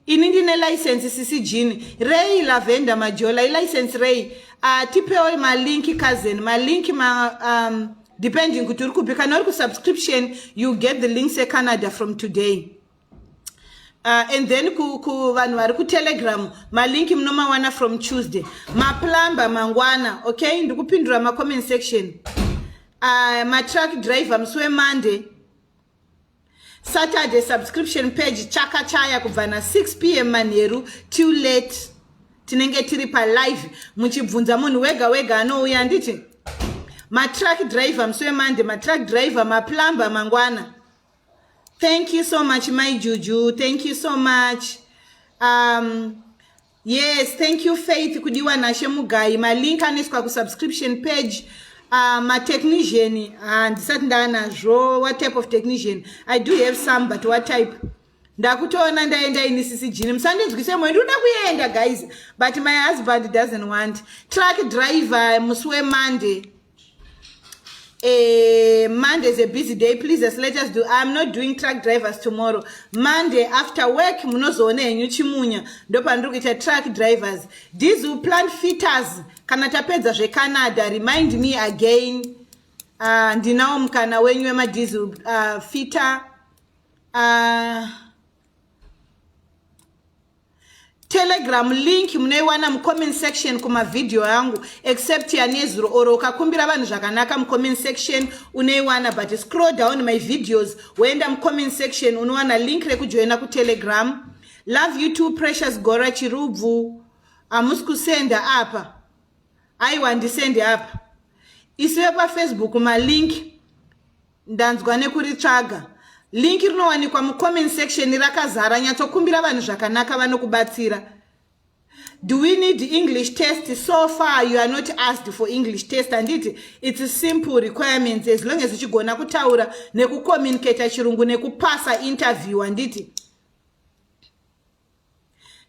ini ndine license sisi jini rei lavenda majola ilicense rei uh, tipewo malinki cousin malinki ma, um, depending kuti uri kupi kana uri kusubscription you get the links ecanada from today Uh, and then ku, ku vanhu vari kutelegram malinki munomawana from tuesday maplumber mangwana okay ndikupindura macomment section uh, matruck driver musi wemonday saturday subscription page chaka chaya kubva na 6 pm manheru too late tinenge tiri palive muchibvunza munhu wega wega anouya handiti matruck driver musi wemonday matruck driver maplumber mangwana Thank you so much my Juju. Thank you so much. Um, yes, thank you Faith kudiwa nashe mugayi. Malink aniswa ku subscription page. Uh, ma technician handisati uh, ndanazvo what type of technician i do have some but what type ndakutoona ndaenda ini sisi jini musandinzwise moyo ndikuda kuenda guys but my husband doesn't want truck driver musi wemonday Uh, Monday is a busy day. Please just let us do. I'm not doing truck drivers tomorrow. Monday after work, munozoona henyu chimunya. Ndopandiri kuita truck drivers. These who plant fitters. Kana tapedza zveCanada, remind me again. Uh, ndinawo mukana wenyu wemadhizi uh, fitter. Uh, telegram link munoiwana mucomment section kumavhidhiyo angu except yanezuro or ukakumbira vanhu zvakanaka mucomment section unoiwana but scroll down my videos woenda mucomment section unowana link rekujoina kutelegram love you two precious gora chirubvu hamusi kusenda apa aiwa ndisende apa isu vepafacebook malink Ndanzwa nekuritsvaga. Link rinowanikwa mucomment section rakazara nyatsokumbira vanhu zvakanaka vanokubatsira. Do we need English test? So far you are not asked for English test and it, it's a simple requirements as long as uchigona kutaura nekucommunicate chirungu nekupasa interview and it.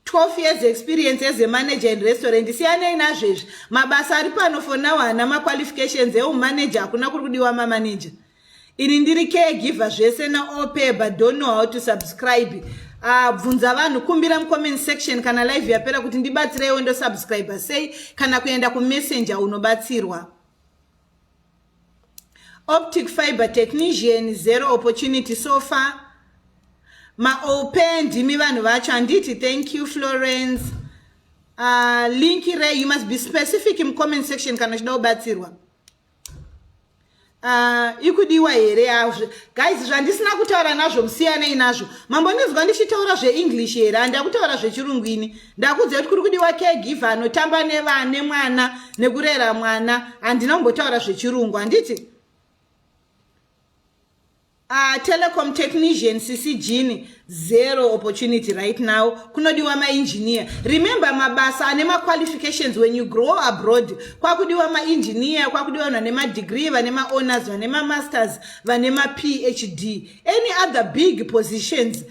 12 years experience as a manager in restaurant siyanei nazvo izvi mabasa ari pano for now haana maqualifications eumanager hakuna kuri kudiwa mamanager ini ndiri caregiver zvese naope but don't know how to subscribe ah, bvunza uh, vanhu kumbira mucomment section kana live yapera kuti ndibatsireiwo ndosubscribe sei kana kuenda kumessenger unobatsirwa optic fiber technician zero opportunity so far maope ndimi vanhu vacho handiti thank you florence uh, link re you must be specific mucomment section kana uchida kubatsirwa Uh, ikudiwa here yazvo guys zvandisina kutaura nazvo musiyanei nazvo mambondinzwa ndichitaura zveenglish here handakutaura zvechirungu ini ndakuudzai kuti kuri kudiwa caregiver anotamba nevane mwana nekurera mwana handina kumbotaura zvechirungu handiti Uh, telecom technician sisi jini zero opportunity right now kunodiwa maengineer remember mabasa ane maqualifications when you grow abroad kwakudiwa maengineer kwakudiwa vanhu vane madegree vane maowners vane mamasters vane maphd any other big positions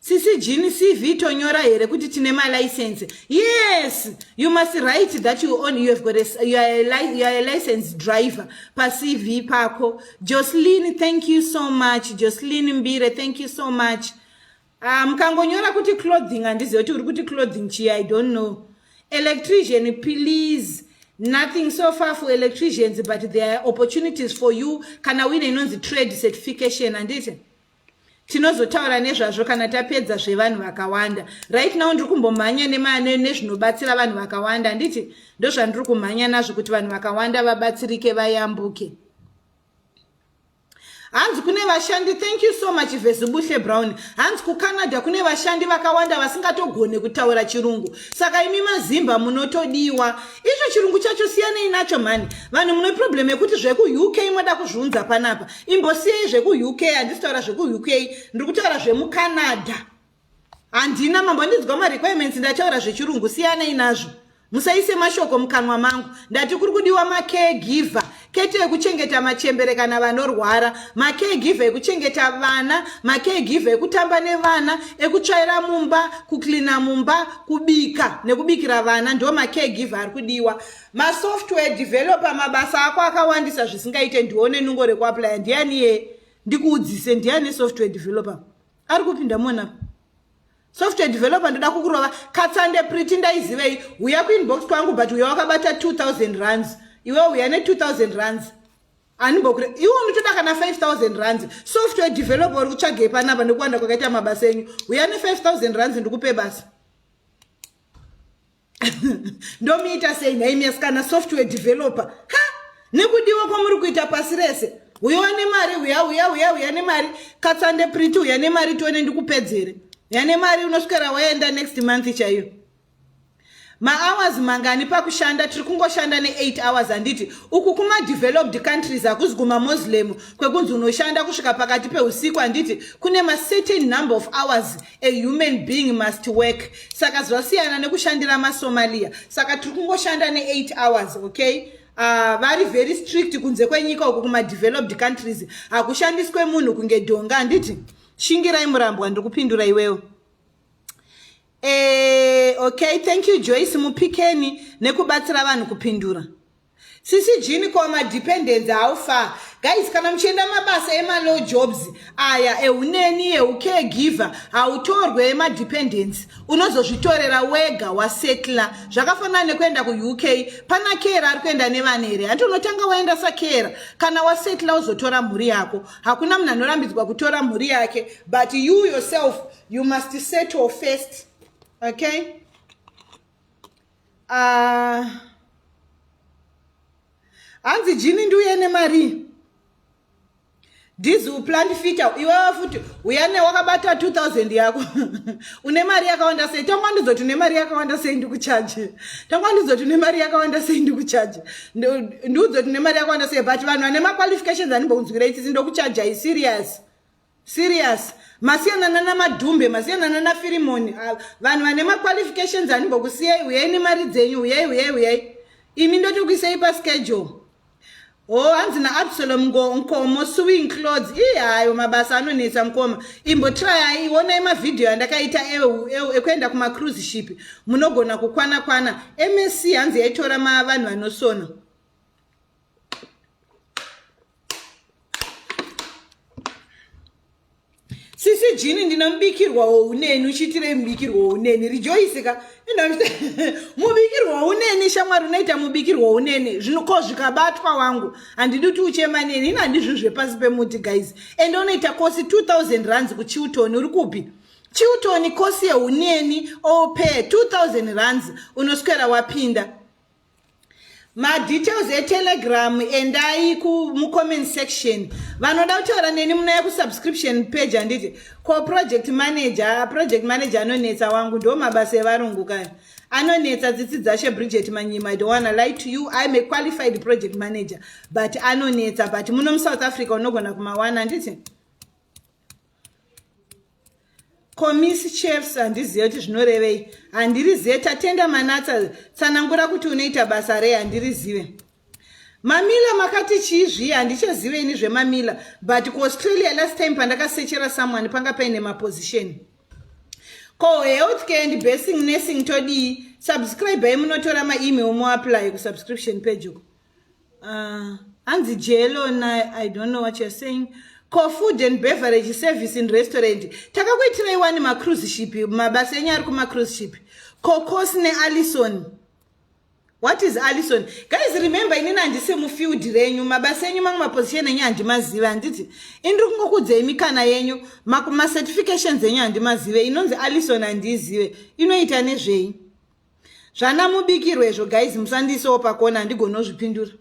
sisi jini cv tonyora here kuti tine malicense yes you must write that you own you have got a, you are a, you are a license driver pacv pako jocelyn thank you so much jocelyn mbire thank you so much ah, mukangonyora um, kuti clothing handizive kuti uri kuti clothing chii i don't know electrician please nothing so far for electricians but there are opportunities for you kana uine inonzi trade certification handiti tinozotaura nezvazvo kana tapedza zvevanhu vakawanda right now ndiri kumbomhanya nezvinobatsira vanhu vakawanda handiti ndozvandiri kumhanya nazvo kuti vanhu vakawanda vabatsirike vayambuke hanzi kune vashandi thank you so much vezubuhle brown hanzi kucanada kune vashandi vakawanda vasingatogone kutaura chirungu saka imi mazimba munotodiwa icho chirungu chacho siyanei nacho mhani vanhu mune problem yekuti zvekuuk moda kuzviunza panapa imbosiyei zvekuuk handisi taura zvekuuk ndiri kutaura zvemucanada handina mambo andidzwa marequirements ndataura zvechirungu siyanei nazvo musaise mashoko mukanwa mangu ndati kuri kudiwa macaregiver kete ekuchengeta machembere kana vanorwara macaregiver ekuchengeta vana macaregiver ekutamba nevana ekutsvaira mumba kuclina mumba kubika nekubikira vana ndo macaregiver ari kudiwa masoftware developer mabasa ako akawandisa zvisingaite ndione nungo rekuaplya ndiani ye ndikuudzise ndiani software developer ari kupinda mona software developer ndoda kukurova katsande priti ndaizivei uya kuinbox kwangu but uya wakabata 2000 runs iwe uya ne 2000 runs anibokure iwe unotoda kana 5000 runs software developer uri kutsvagei panapa nekuwanda kwakaita mabasa enyu uya ne 5000 runs ndikupe basa ndomuita sei nhai miasikana software developer ha nekudiwa kwamuri kuita pasi rese uyo wane mari uya uya uya uya nemari katsande priti uya nemari tione ndikupedzere uya nemari unosvikira waenda next month chaiyo mahours mangani pakushanda tiri kungoshanda ne8 hours handiti uku kumadeveloped countries hakuzi kumamoslem kwekunzi unoshanda kusvika pakati peusiku handiti kune macertain number of hours a human being must work saka zvasiyana nekushandira masomalia saka tiri kungoshanda ne8 hours okay uh, vari very strict kunze kwenyika uku kumadeveloped countries hakushandiswe munhu kunge dhonga handiti shingirai murambwa ndiri kupindura iwewo e, okay thank you joyce mupikeni nekubatsira vanhu kupindura Sisi Jean ko ma dependence how far guys kana muchienda mabasa ema low jobs aya ehuneni ehu caregiver hautorwe ema dependence unozozvitorera wega wasetla zvakafanana nekuenda ku UK pana kera ari kuenda nevana here hanti unotanga waenda sa kera kana wasetla uzotora mhuri yako hakuna munhu anorambidzwa kutora mhuri yake but you yourself you must settle first okay Ah, hanzi jini ndiuye nemarii dhizi uplant feature iwewe futi uya ne wakabata 2000 yako une mari yakawanda sei tangwa ndizoti une mari yakawanda sei ndikuchaje tangwa ndizoti une mari yakawanda sei ndikuchaje ndiudzoti une mari yakawanda sei but vanhu vane maqualifications animbounzwira itsitsi ndokuchaja iserious Serious. Masiyana nana madhumbe, masiyana nana firimoni. Ah, vanhu vane ma qualifications animbokusiyai, uyai nemari dzenyu, uyai, uyai, uyai. Imi ndotokuisai pa schedule. Oh, hanzi na Absalom ngo nkomo suing clothes. Ii hayo mabasa anonetsa mkoma. Imbo try iwonai ma video andakaita eu eu ekuenda kuma cruise ship. Munogona kukwana kwana. MSC hanzi yaitora ma vanhu vanosona. sisi jini ndina mubikirwa wouneni uchiitirei mubikirwa wouneni rijoisi ka mubikirwa wouneni shamwari unoita mubikirwa wouneni zvinoko zvikabatwa wangu handidi kuti uchema neni ino handizvi zvepasi pemuti guys ende unoita kosi 2000 rands kuchiutoni uri kupi chiutoni kosi yeuneni ope 2000 rands unoswera wapinda madetails etelegram endai kumucomment section vanoda kutaura neni munaya kusubscription page handiti ko project manager project manager anonetsa wangu ndo mabasa evarungu kaya anonetsa tsitsi dzashe bridget manyima i don't wanna lie to you iam a qualified project manager but anonetsa but muno musouth africa unogona kumawana handiti Komisi chefs handizive kuti zvinorevei handirizive tatenda manatsa tsanangura kuti unoita basa rei handirizive mamila makati chii zviye handichazive ini zvemamila but kuaustralia last time pandakasechera someone panga paine maposition ko health care and basing nursing todii subscribe ai munotora maemail moapply kusubscription page uko Uh, hanzi jelo na i don't know what you're saying ko food and beverage service in restaurant takakuitirai wani macruise ship mabasa enyu ari kumacruise ship kokos nealison what is alison guys remember inini handisi mufield renyu mabasa enyu mamwe maposition enyu handimazive handiti indiri kungokudzei mikana yenyu macertifications enyu handimazive inonzi alison handiizive inoita nezvei zvana mubikirwe izvo guys musandiisewo pakona handigonozvipindura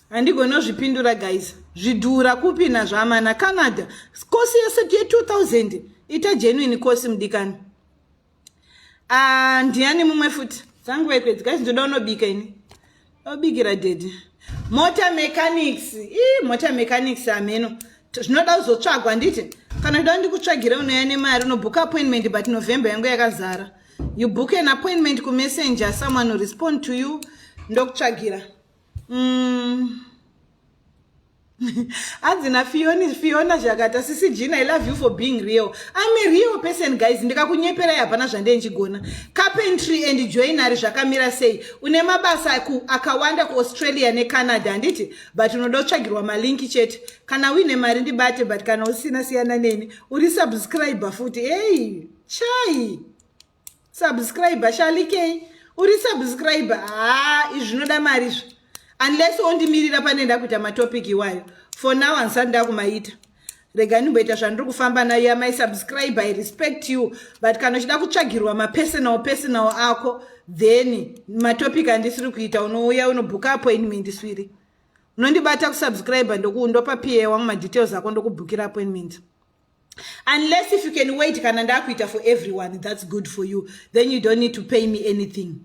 handigonozvipindura guys zvidhura kupi nazvamana canada kosi yese ye 2000 ita genuine kosi mudikani ah, ndiani mumwe futi dzangu vaikwedzi guys ndoda unobika ini Obikira daddy. Motor mechanics. Ii motor mechanics ameno. Zvinoda kuzotsvagwa nditi. Kana kuda ndikutsvagire unoya nemari unobook appointment but November yangu yakazara. You book an appointment ku messenger someone will respond to you ndokutsvagira. Mm. hanzi nafioni fiona zvakata sisi jina i love you for being real im a real person guys ndikakunyeperai hapana zvande ndichigona carpentry and joinary zvakamira sei une mabasa akawanda kuaustralia necanada handiti but unoda kutsvagirwa malinki chete kana uine mari ndibate but kana usina siyana neni uri subscriber futi ei chai subscriber shalikei uri subscriber haa izvi zvinoda mari izvi unless ondimirira pane nda kuita matopic iwayo for now handisati ndakumaita rega ndimboita zvandiri kufamba nayo amai subscribe i respect you but kana uchida kutsvagirwa mapersonal personal ako then matopic andisiri kuita unouya unobhuka appointment swiri unondibata kusubscribe ndokuundopa pa wangu madetails ako ndokubhukira appointment unless if you can wait kana ndakuita for everyone that's good for you then you don't need to pay me anything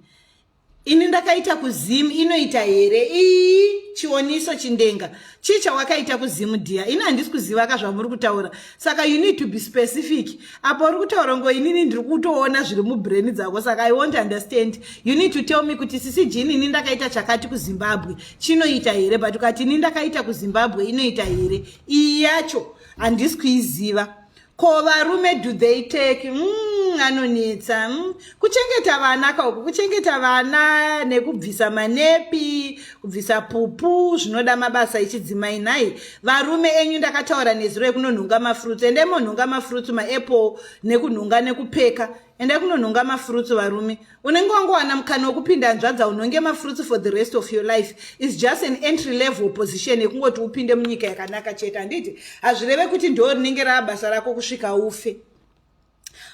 ini ndakaita kuzim inoita here ii chioniso chindenga chii chawakaita kuzim dia ini handisi kuziva ka zvamuri kutaura saka you need to be specific apo uri kutaura ngo inini ndiri kutoona zviri mubrain dzako saka i won't understand you need to tell me kuti sisi jini ini ndakaita chakati kuzimbabwe chinoita here but ukati ini ndakaita kuzimbabwe inoita here iyi yacho handisi kuiziva ko varume do they take mm, anonetsa mm. kuchengeta vana kauku kuchengeta vana nekubvisa manepi kubvisa pupu zvinoda mabasa echidzimai nhai varume enyu ndakataura nezuro yekunonhunga mafruits ende monhunga mafruits maapple nekunhunga nekupeka enda kunonhonga mafurutsu varume unenge wangowana mukana wekupinda hanzvadza unhonge mafurutsu for the rest of your life is just an entry level position yekungoti upinde munyika yakanaka chete handiti hazvireve kuti ndoo rinenge rava basa rako kusvika ufe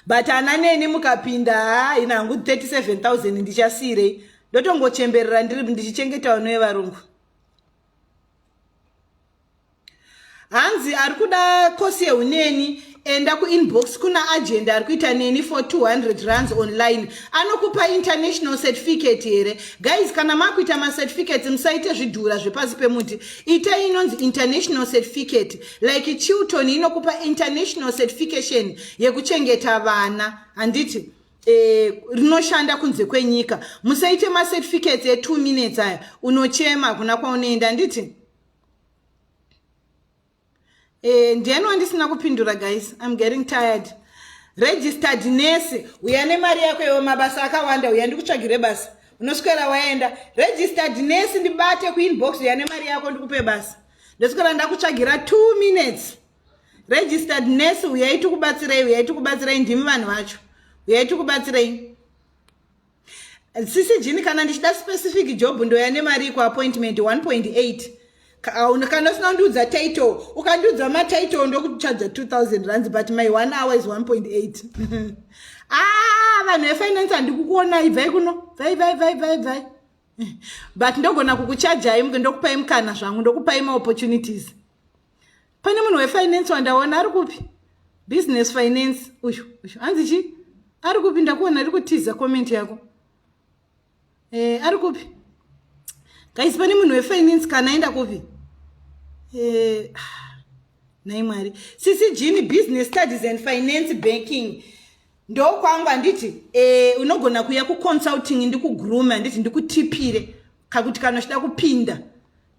but ana neni mukapinda haina hangu 37000 ndichasiirei ndotongochemberera ndiri ndichichengetawo nevarungu hanzi ari kuda kosi yeuneni enda kuinbox kuna agenda ari kuita neni for 200 runs online anokupa international certificate here guys kana makuita macertificates musaite zvidhura zvepasi pemuti itai inonzi international certificate like chilton inokupa international certification yekuchengeta vana handiti Eh, rinoshanda kunze kwenyika musaite macertificates etwo minutes aya unochema hakuna kwaunoenda handiti eh, ndiyani wandisina kupindura guys im getting tired registered nurse uya nemari yako iwo mabasa akawanda uya ndikutsvagire basa unoswera waenda registered nurse ndibate kuinbox uya nemari yako ndikupe basa ndoswera ndakutsvagira two minutes registered nurse uyai tikubatsirei uyai tikubatsirei ndimi vanhu vacho uyai tikubatsirei sisi jini kana ndichida specific job ndoya nemari iko appointment 1.8 kana usina kundiudza title ukandiudza matitle ndokuchaja 2000 rands but my one hour is 1.8 ah vanhu vefinance handikukuonai bvai kuno bvai bvai bvai bvai bvai but ndogona kukuchajai ndokupai mukana zvangu ndokupai maopportunities pane munhu wefinance wandaona ari kupi business finance uyu uyu hanzi chii ari kupi ndakuona ari kutiza comment yako e, ari kupi guys pane munhu wefinance kana aenda kupi e, nhai mwari sisi jini business studies and finance banking ndokwangu handiti e, unogona kuya kuconsulting ndikugroome handiti ndikutipire kakuti kana uchida kupinda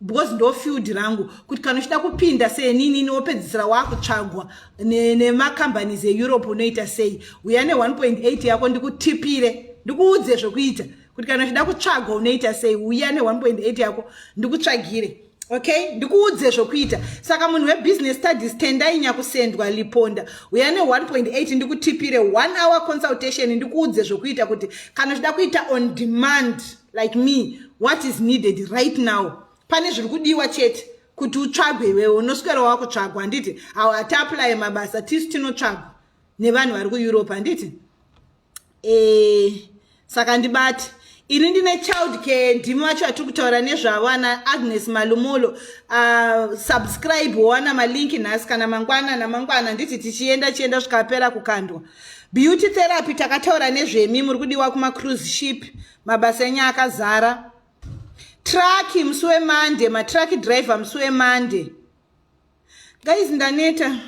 because ndo field rangu kuti kana uchida kupinda seeninini wopedzisira waakutsvagwa nemacompanies ne eeurope unoita sei uya ne1.8 yako ndikutipire ndikuudze zvekuita kuti kana uchida kutsvagwa unoita sei uya ne1.8 yako ndikutsvagire okay ndikuudze zvokuita saka munhu webusiness studies tendai nyakusendwa liponda uya ne1.8 ndikutipire one hour consultation ndikuudze zvokuita kuti kana uchida kuita on demand like me what is needed right now pane zviri kudiwa chete kuti utsvagwe iwewe unoswera wakutsvagwa handiti awo hatiaplaye mabasa tisu tinotsvagwa nevanhu vari kueurope handiti e, saka ndibati ini ndine child care ndimi vacho vatiri kutaura nezvavo ana agnes malumolo uh, subscribe wowana malinki nhasi kana mangwana namangwana handiti tichienda chienda zvikapera kukandwa Beauty therapy takataura nezvemi muri kudiwa kuma cruise ship mabasa enyu akazara. Truck musi weMonday ma truck driver musi weMonday. Guys ndaneta.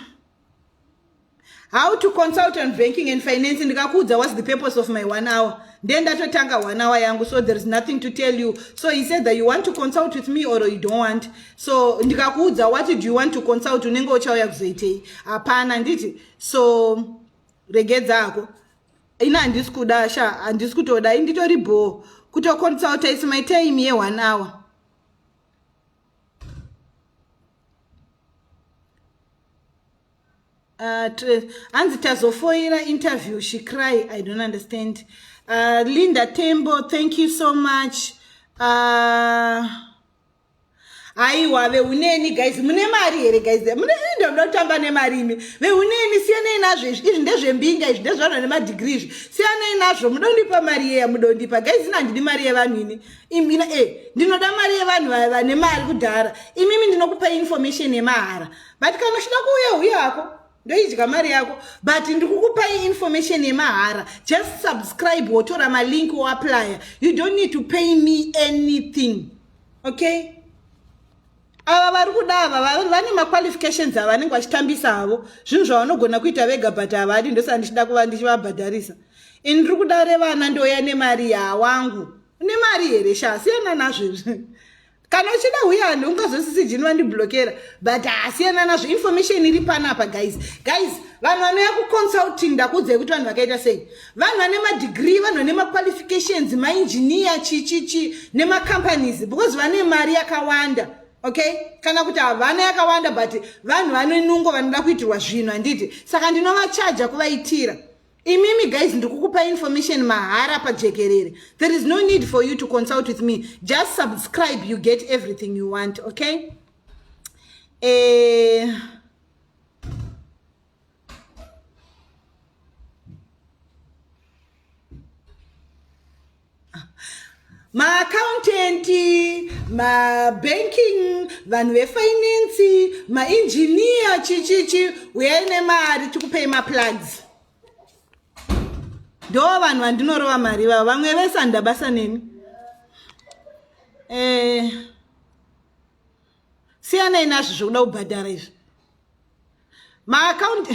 How to consult on banking and finance ndikakuudza what's the purpose of my one hour. Then ndatotanga one hour yangu so there is nothing to tell you. So he said that you want to consult with me or you don't want. So ndikakuudza what do you want to consult unenge uchauya kuzoitei. Hapana nditi so regedza hako ini handisi kuda sha handisi kutoda ini nditori bhoo kutoconsulta is my time yeone hour Uh, hanzi tazofoira interview she cry i don't understand uh, linda tembo thank you so much uh, aiwa veuneni guys mune mari here guys mune ini ndoda kutamba nemari imi veuneni siyanei nazvo izvi izvi ndezvembinga izvi ndezvana nemadhigiri izvi siyanei nazvo muda kundipa mari yeya muda kundipa guys ini handidi mari yevanhu ini imina e eh, ndinoda mari yevanhu vane mari kudhara imimi ndinokupa information yemahara but kana uchida kuuya huya hako ndoidya mari yako but ndiri kukupai information yemahara just subscribe wotora malink woaplya you don't need to pay me anything okay ava vari kuda ava vane maqualifications ava vanenge vachitambisa havo zvinhu zvavanogona kuita vega but havadi ndosaka ndichida kuva ndichivabhadharisa ini ndiri kuda revana ndouya nemari yawangu une mari here sha siyana nazvo izvi kana uchida huya handi ungazosisi jini vandiblokera but hasiyana nazvo information iri panapa guys guys vanhu vanouya kuconsulting ndakuudzai kuti vanhu vakaita sei vanhu vane madegree vanhu vane maqualifications mainjiniya chichichi nemacompanies because vane mari yakawanda okay kana kuti havana yakawanda but vanhu vane nungo vanoda kuitirwa zvinhu handiti saka ndinovachaja kuvaitira imimi guys ndikukupa information mahara pajekerere there is no need for you to consult with me just subscribe you get everything you want okay eh... maaccountant mabanking vanhu vefinance maengineer chichichi uyai nemari tikupei maplugs ndo vanhu vandinorova mari vavo vamwe vese handabasa neni eh. siyanai nazvo zvekuda kubhadhara izvi maakaunti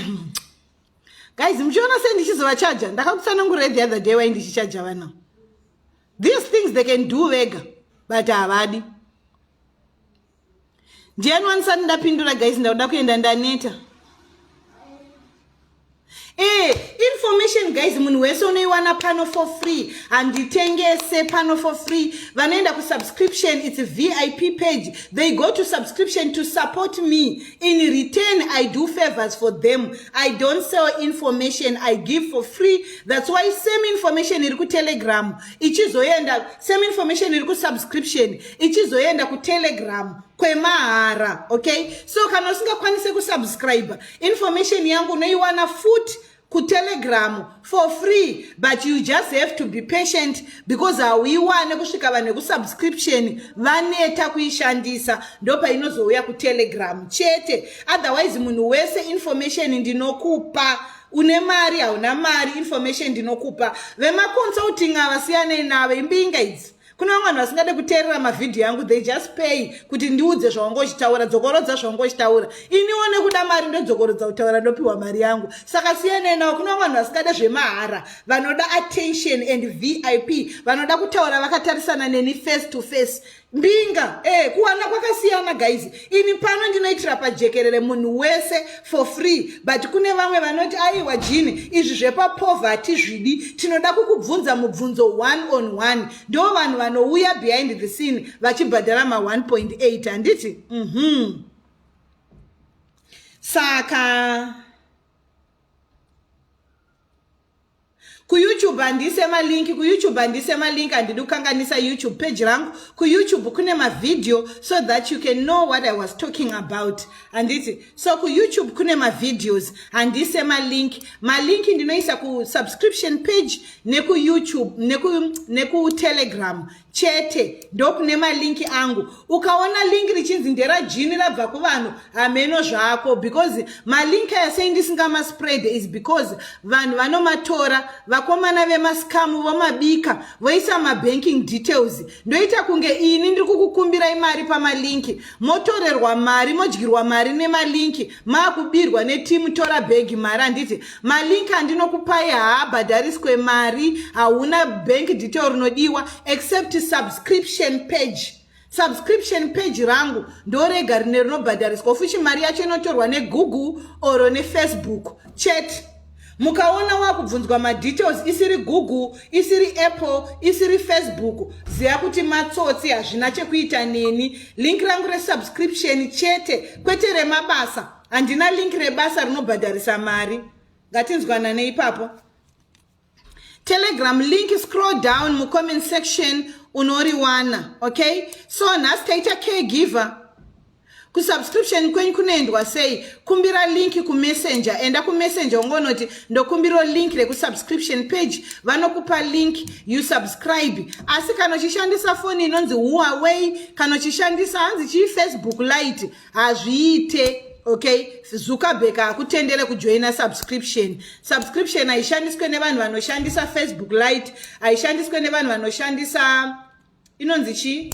guys muchiona sei ndichizovachaja ndakakutsanangurira the other day wai ndichichaja vana these things they can do vega but havadi ndiyani wanisati ndapindura guys ndakuda kuenda ndaneta Eh, information guys munhu wese unoiwana pano for free handitengese pano for free vanoenda kusubscription its vip page they go to subscription to support me in return i do favors for them i don't sell information i give for free that's why same information iri kutelegram ichizoenda same information iri kusubscription ichizoenda kutelegram kwemahara okay so kana usingakwanise kusubscribe information yangu unoiwana futi kutelegramu for free but you just have to be patient because hauiwane kusvika vanhu vekusubscription vaneta kuishandisa ndopainozouya kutelegramu chete otherwise munhu wese information ndinokupa une mari hauna mari information ndinokupa vemaconsulting ava siyanei navo imbinga idzi kune vamwe vanhu vasingade kuteerera mavhidhiyo yangu they just pay kuti ndiudze zvaunga uchitaura dzokorodza zvaunga uchitaura iniwo nekuda mari ndodzokorodza kutaura ndopiwa mari yangu saka siyanai nawo kune vamwe vanhu vasingade zvemahara vanoda attention and vip vanoda kutaura vakatarisana neni face to face mbinga e kuwana kwakasiyana guys ini pano ndinoitira pajekerere munhu wese for free but kune vamwe vanoti aiwa jini izvi zvepapovha hatizvidi tinoda kukubvunza mubvunzo one on one ndo vanhu vanouya behind the scene vachibhadhara ma1.8 handiti mm -hmm. saka kuyoutube handiise malinki kuyoutube handiise malinki handidi kukanganisa youtube page rangu kuyoutube kune mavhidhiyo so that you can know what i was talking about handiti so kuyoutube kune mavhidhios handiise malinki malinki ndinoisa kusubscription page nekuyoutube nekutelegram neku chete ndokune malinki angu ukaona linki richinzi nderajini rabva kuvanhu hameno zvako because malinki aya sei ndisingamaspred is because vanhu vanomatora vakomana vemaskamu vomabika voisa mabanking details ndoita kunge ini ndiri kukukumbirai mari pamalinki motorerwa mari modyirwa mari nemalinki makubirwa netimu tora bhegi mari handiti malink andinokupai haabhadhariswe mari hauna bank detail rinodiwa except subscription page subscription page rangu ndorega rine rinobhadhariswa futi mari yacho inotorwa negoogle or nefacebook chete mukaona wakubvunzwa madetails isiri google isiri apple isiri facebook ziva kuti matsotsi hazvina chekuita neni link rangu resubscription chete kwete remabasa handina link rebasa rinobhadharisa mari ngatinzwanane ipapo telegram link scroll down mucomment section unoriwana okay so nhasi taita caregiver kusubscription kwenyu kunoendwa sei kumbira link kumessenger enda kumessenger ungonoti ndokumbiro link rekusubscription page vanokupa link you subscribe asi kana uchishandisa foni inonzi huaway kana uchishandisa hanzi chii facebook light hazviite okay zuckerberg hakutendere kujoina subscription subscription haishandiswe nevanhu vanoshandisa facebook light haishandiswe nevanhu vanoshandisa inonzi chii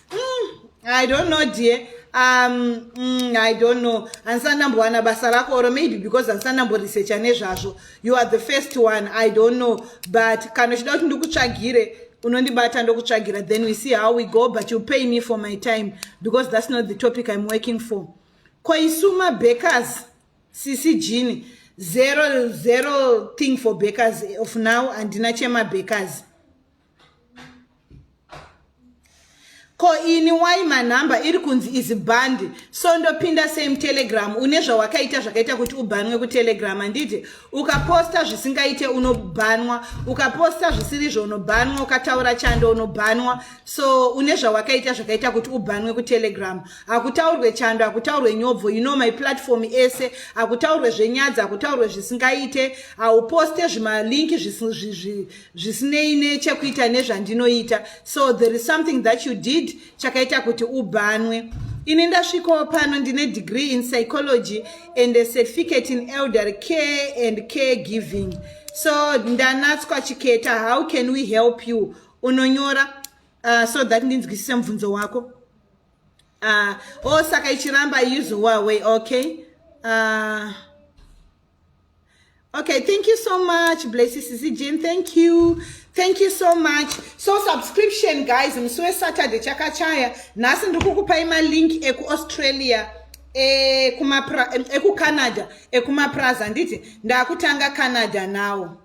mm, i don't know dear um mm, i don't know handisati ndambowana basa rako or maybe because handisati ndamboresearcha nezvazvo you are the first one i don't know but kana uchida kuti ndikutsvagire unondibata ndokutsvagira then we see how we go but you pay me for my time because that's not the topic i'm working for ko isu mabakers sisi jini zero zero thing for bakers of now handina chemabakers ko ini why manhamba iri kunzi izi bhandi so ndopinda same telegram une zvawakaita zvakaita kuti ubhanwe kutelegram handiti ukaposta zvisingaite unobhanwa ukaposta zvisiri zvounobhanwa ukataura chando unobhanwa so une zvawakaita zvakaita kuti ubhanwe kutelegram hakutaurwe chando hakutaurwe nyobvo you know my platform ese hakutaurwe zvenyadzi hakutaurwe zvisingaite hauposte zvimalinki zvisinei nechekuita nezvandinoita so there is something that you did chakaita kuti ubhanwe ini ndasvikawo pano ndine degree in psychology and a certificate in elder care and care giving so ndanatswa chiketa how can we help you unonyora uh, so that ndinzwisise mubvunzo wako uh, o oh, saka ichiramba usual way okay uh, Okay, thank you so much. Bless you, Sisi Jane. Thank you. Thank you so much. So subscription guys, msuwe Saturday chakachaya. Nasi ndikukupa ima link eku Australia. Eh, kuma pra, eh, eku Canada, ekuma eh, praza nditi ndakutanga Canada nawo.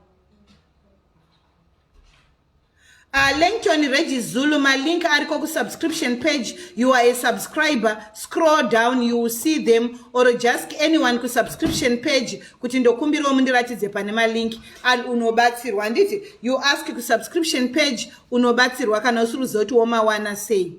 Uh, Langton Reggie Zulu, my link ariko ku subscription page. You are a subscriber. Scroll down, you will see them. Or just anyone ku subscription page. Kuti ndokumbiro mundiratidze pane ma link. And unobatsirwa. Handiti, you ask ku subscription page. Unobatsirwa kana usiri zoti womawana sei.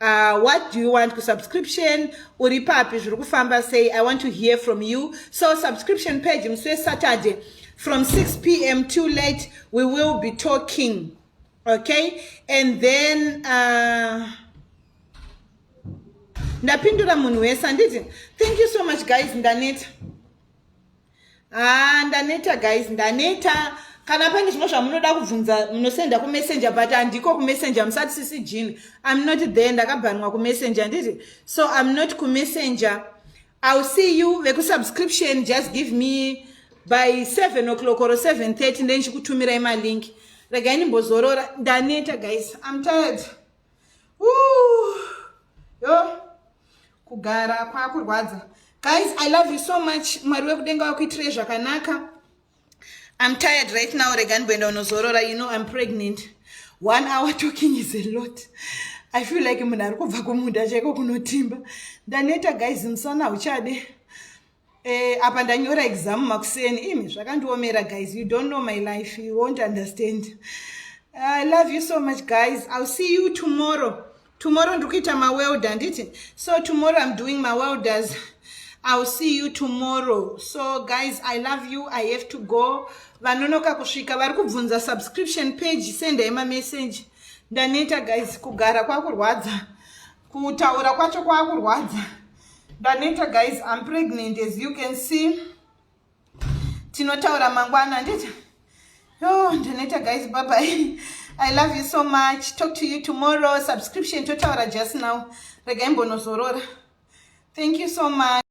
Uh, what do you want ku subscription uri papi zviri kufamba sei i want to hear from you so subscription page musi wesaturday from 6 pm too late we will be talking okay and then uh, ndapindura munhu wese handiti thank you so much guys ndaneta haa ndaneta guys ndaneta kana pane zvimwe zvamunoda kubvunza munosenda kumessenger but handiko kumessenger musati sisi jean im not there ndakabhanwa kumessenger nditi so im not kumessenger ill see you vekusubscription just give me by seven o'clock or seven thirty ndendichikutumirai malink regai ndimbozorora ndaneta guys im tired yo kugara kwakurwadza guys i love you so much mwari wekudenga wakuitirei zvakanaka i'm tired right now rega ndikuenda unozorora you know i'm pregnant one hour talking is a lot i feel like munhu ari kubva kumunda chaiko kunotimba ndaneta guys musana uchade Eh, apa ndanyora exam makuseni imi zvakandiomera guys you don't know my life you won't understand i love you so much guys ill see you tomorrow tomorrow ndiri kuita mawelder handiti so tomorrow im doing mawelders ill see you tomorrow so guys i love you i have to go vanonoka kusvika vari kubvunza subscription page sendai mamessage ndaneta guys kugara kwakurwadza kutaura kwacho kwakurwadza ndaneta guys im pregnant as you can see tinotaura mangwana ndita yo ndaneta guys babai i love you so much talk to you tomorrow subscription totaura just now rega imbonozorora thank you so much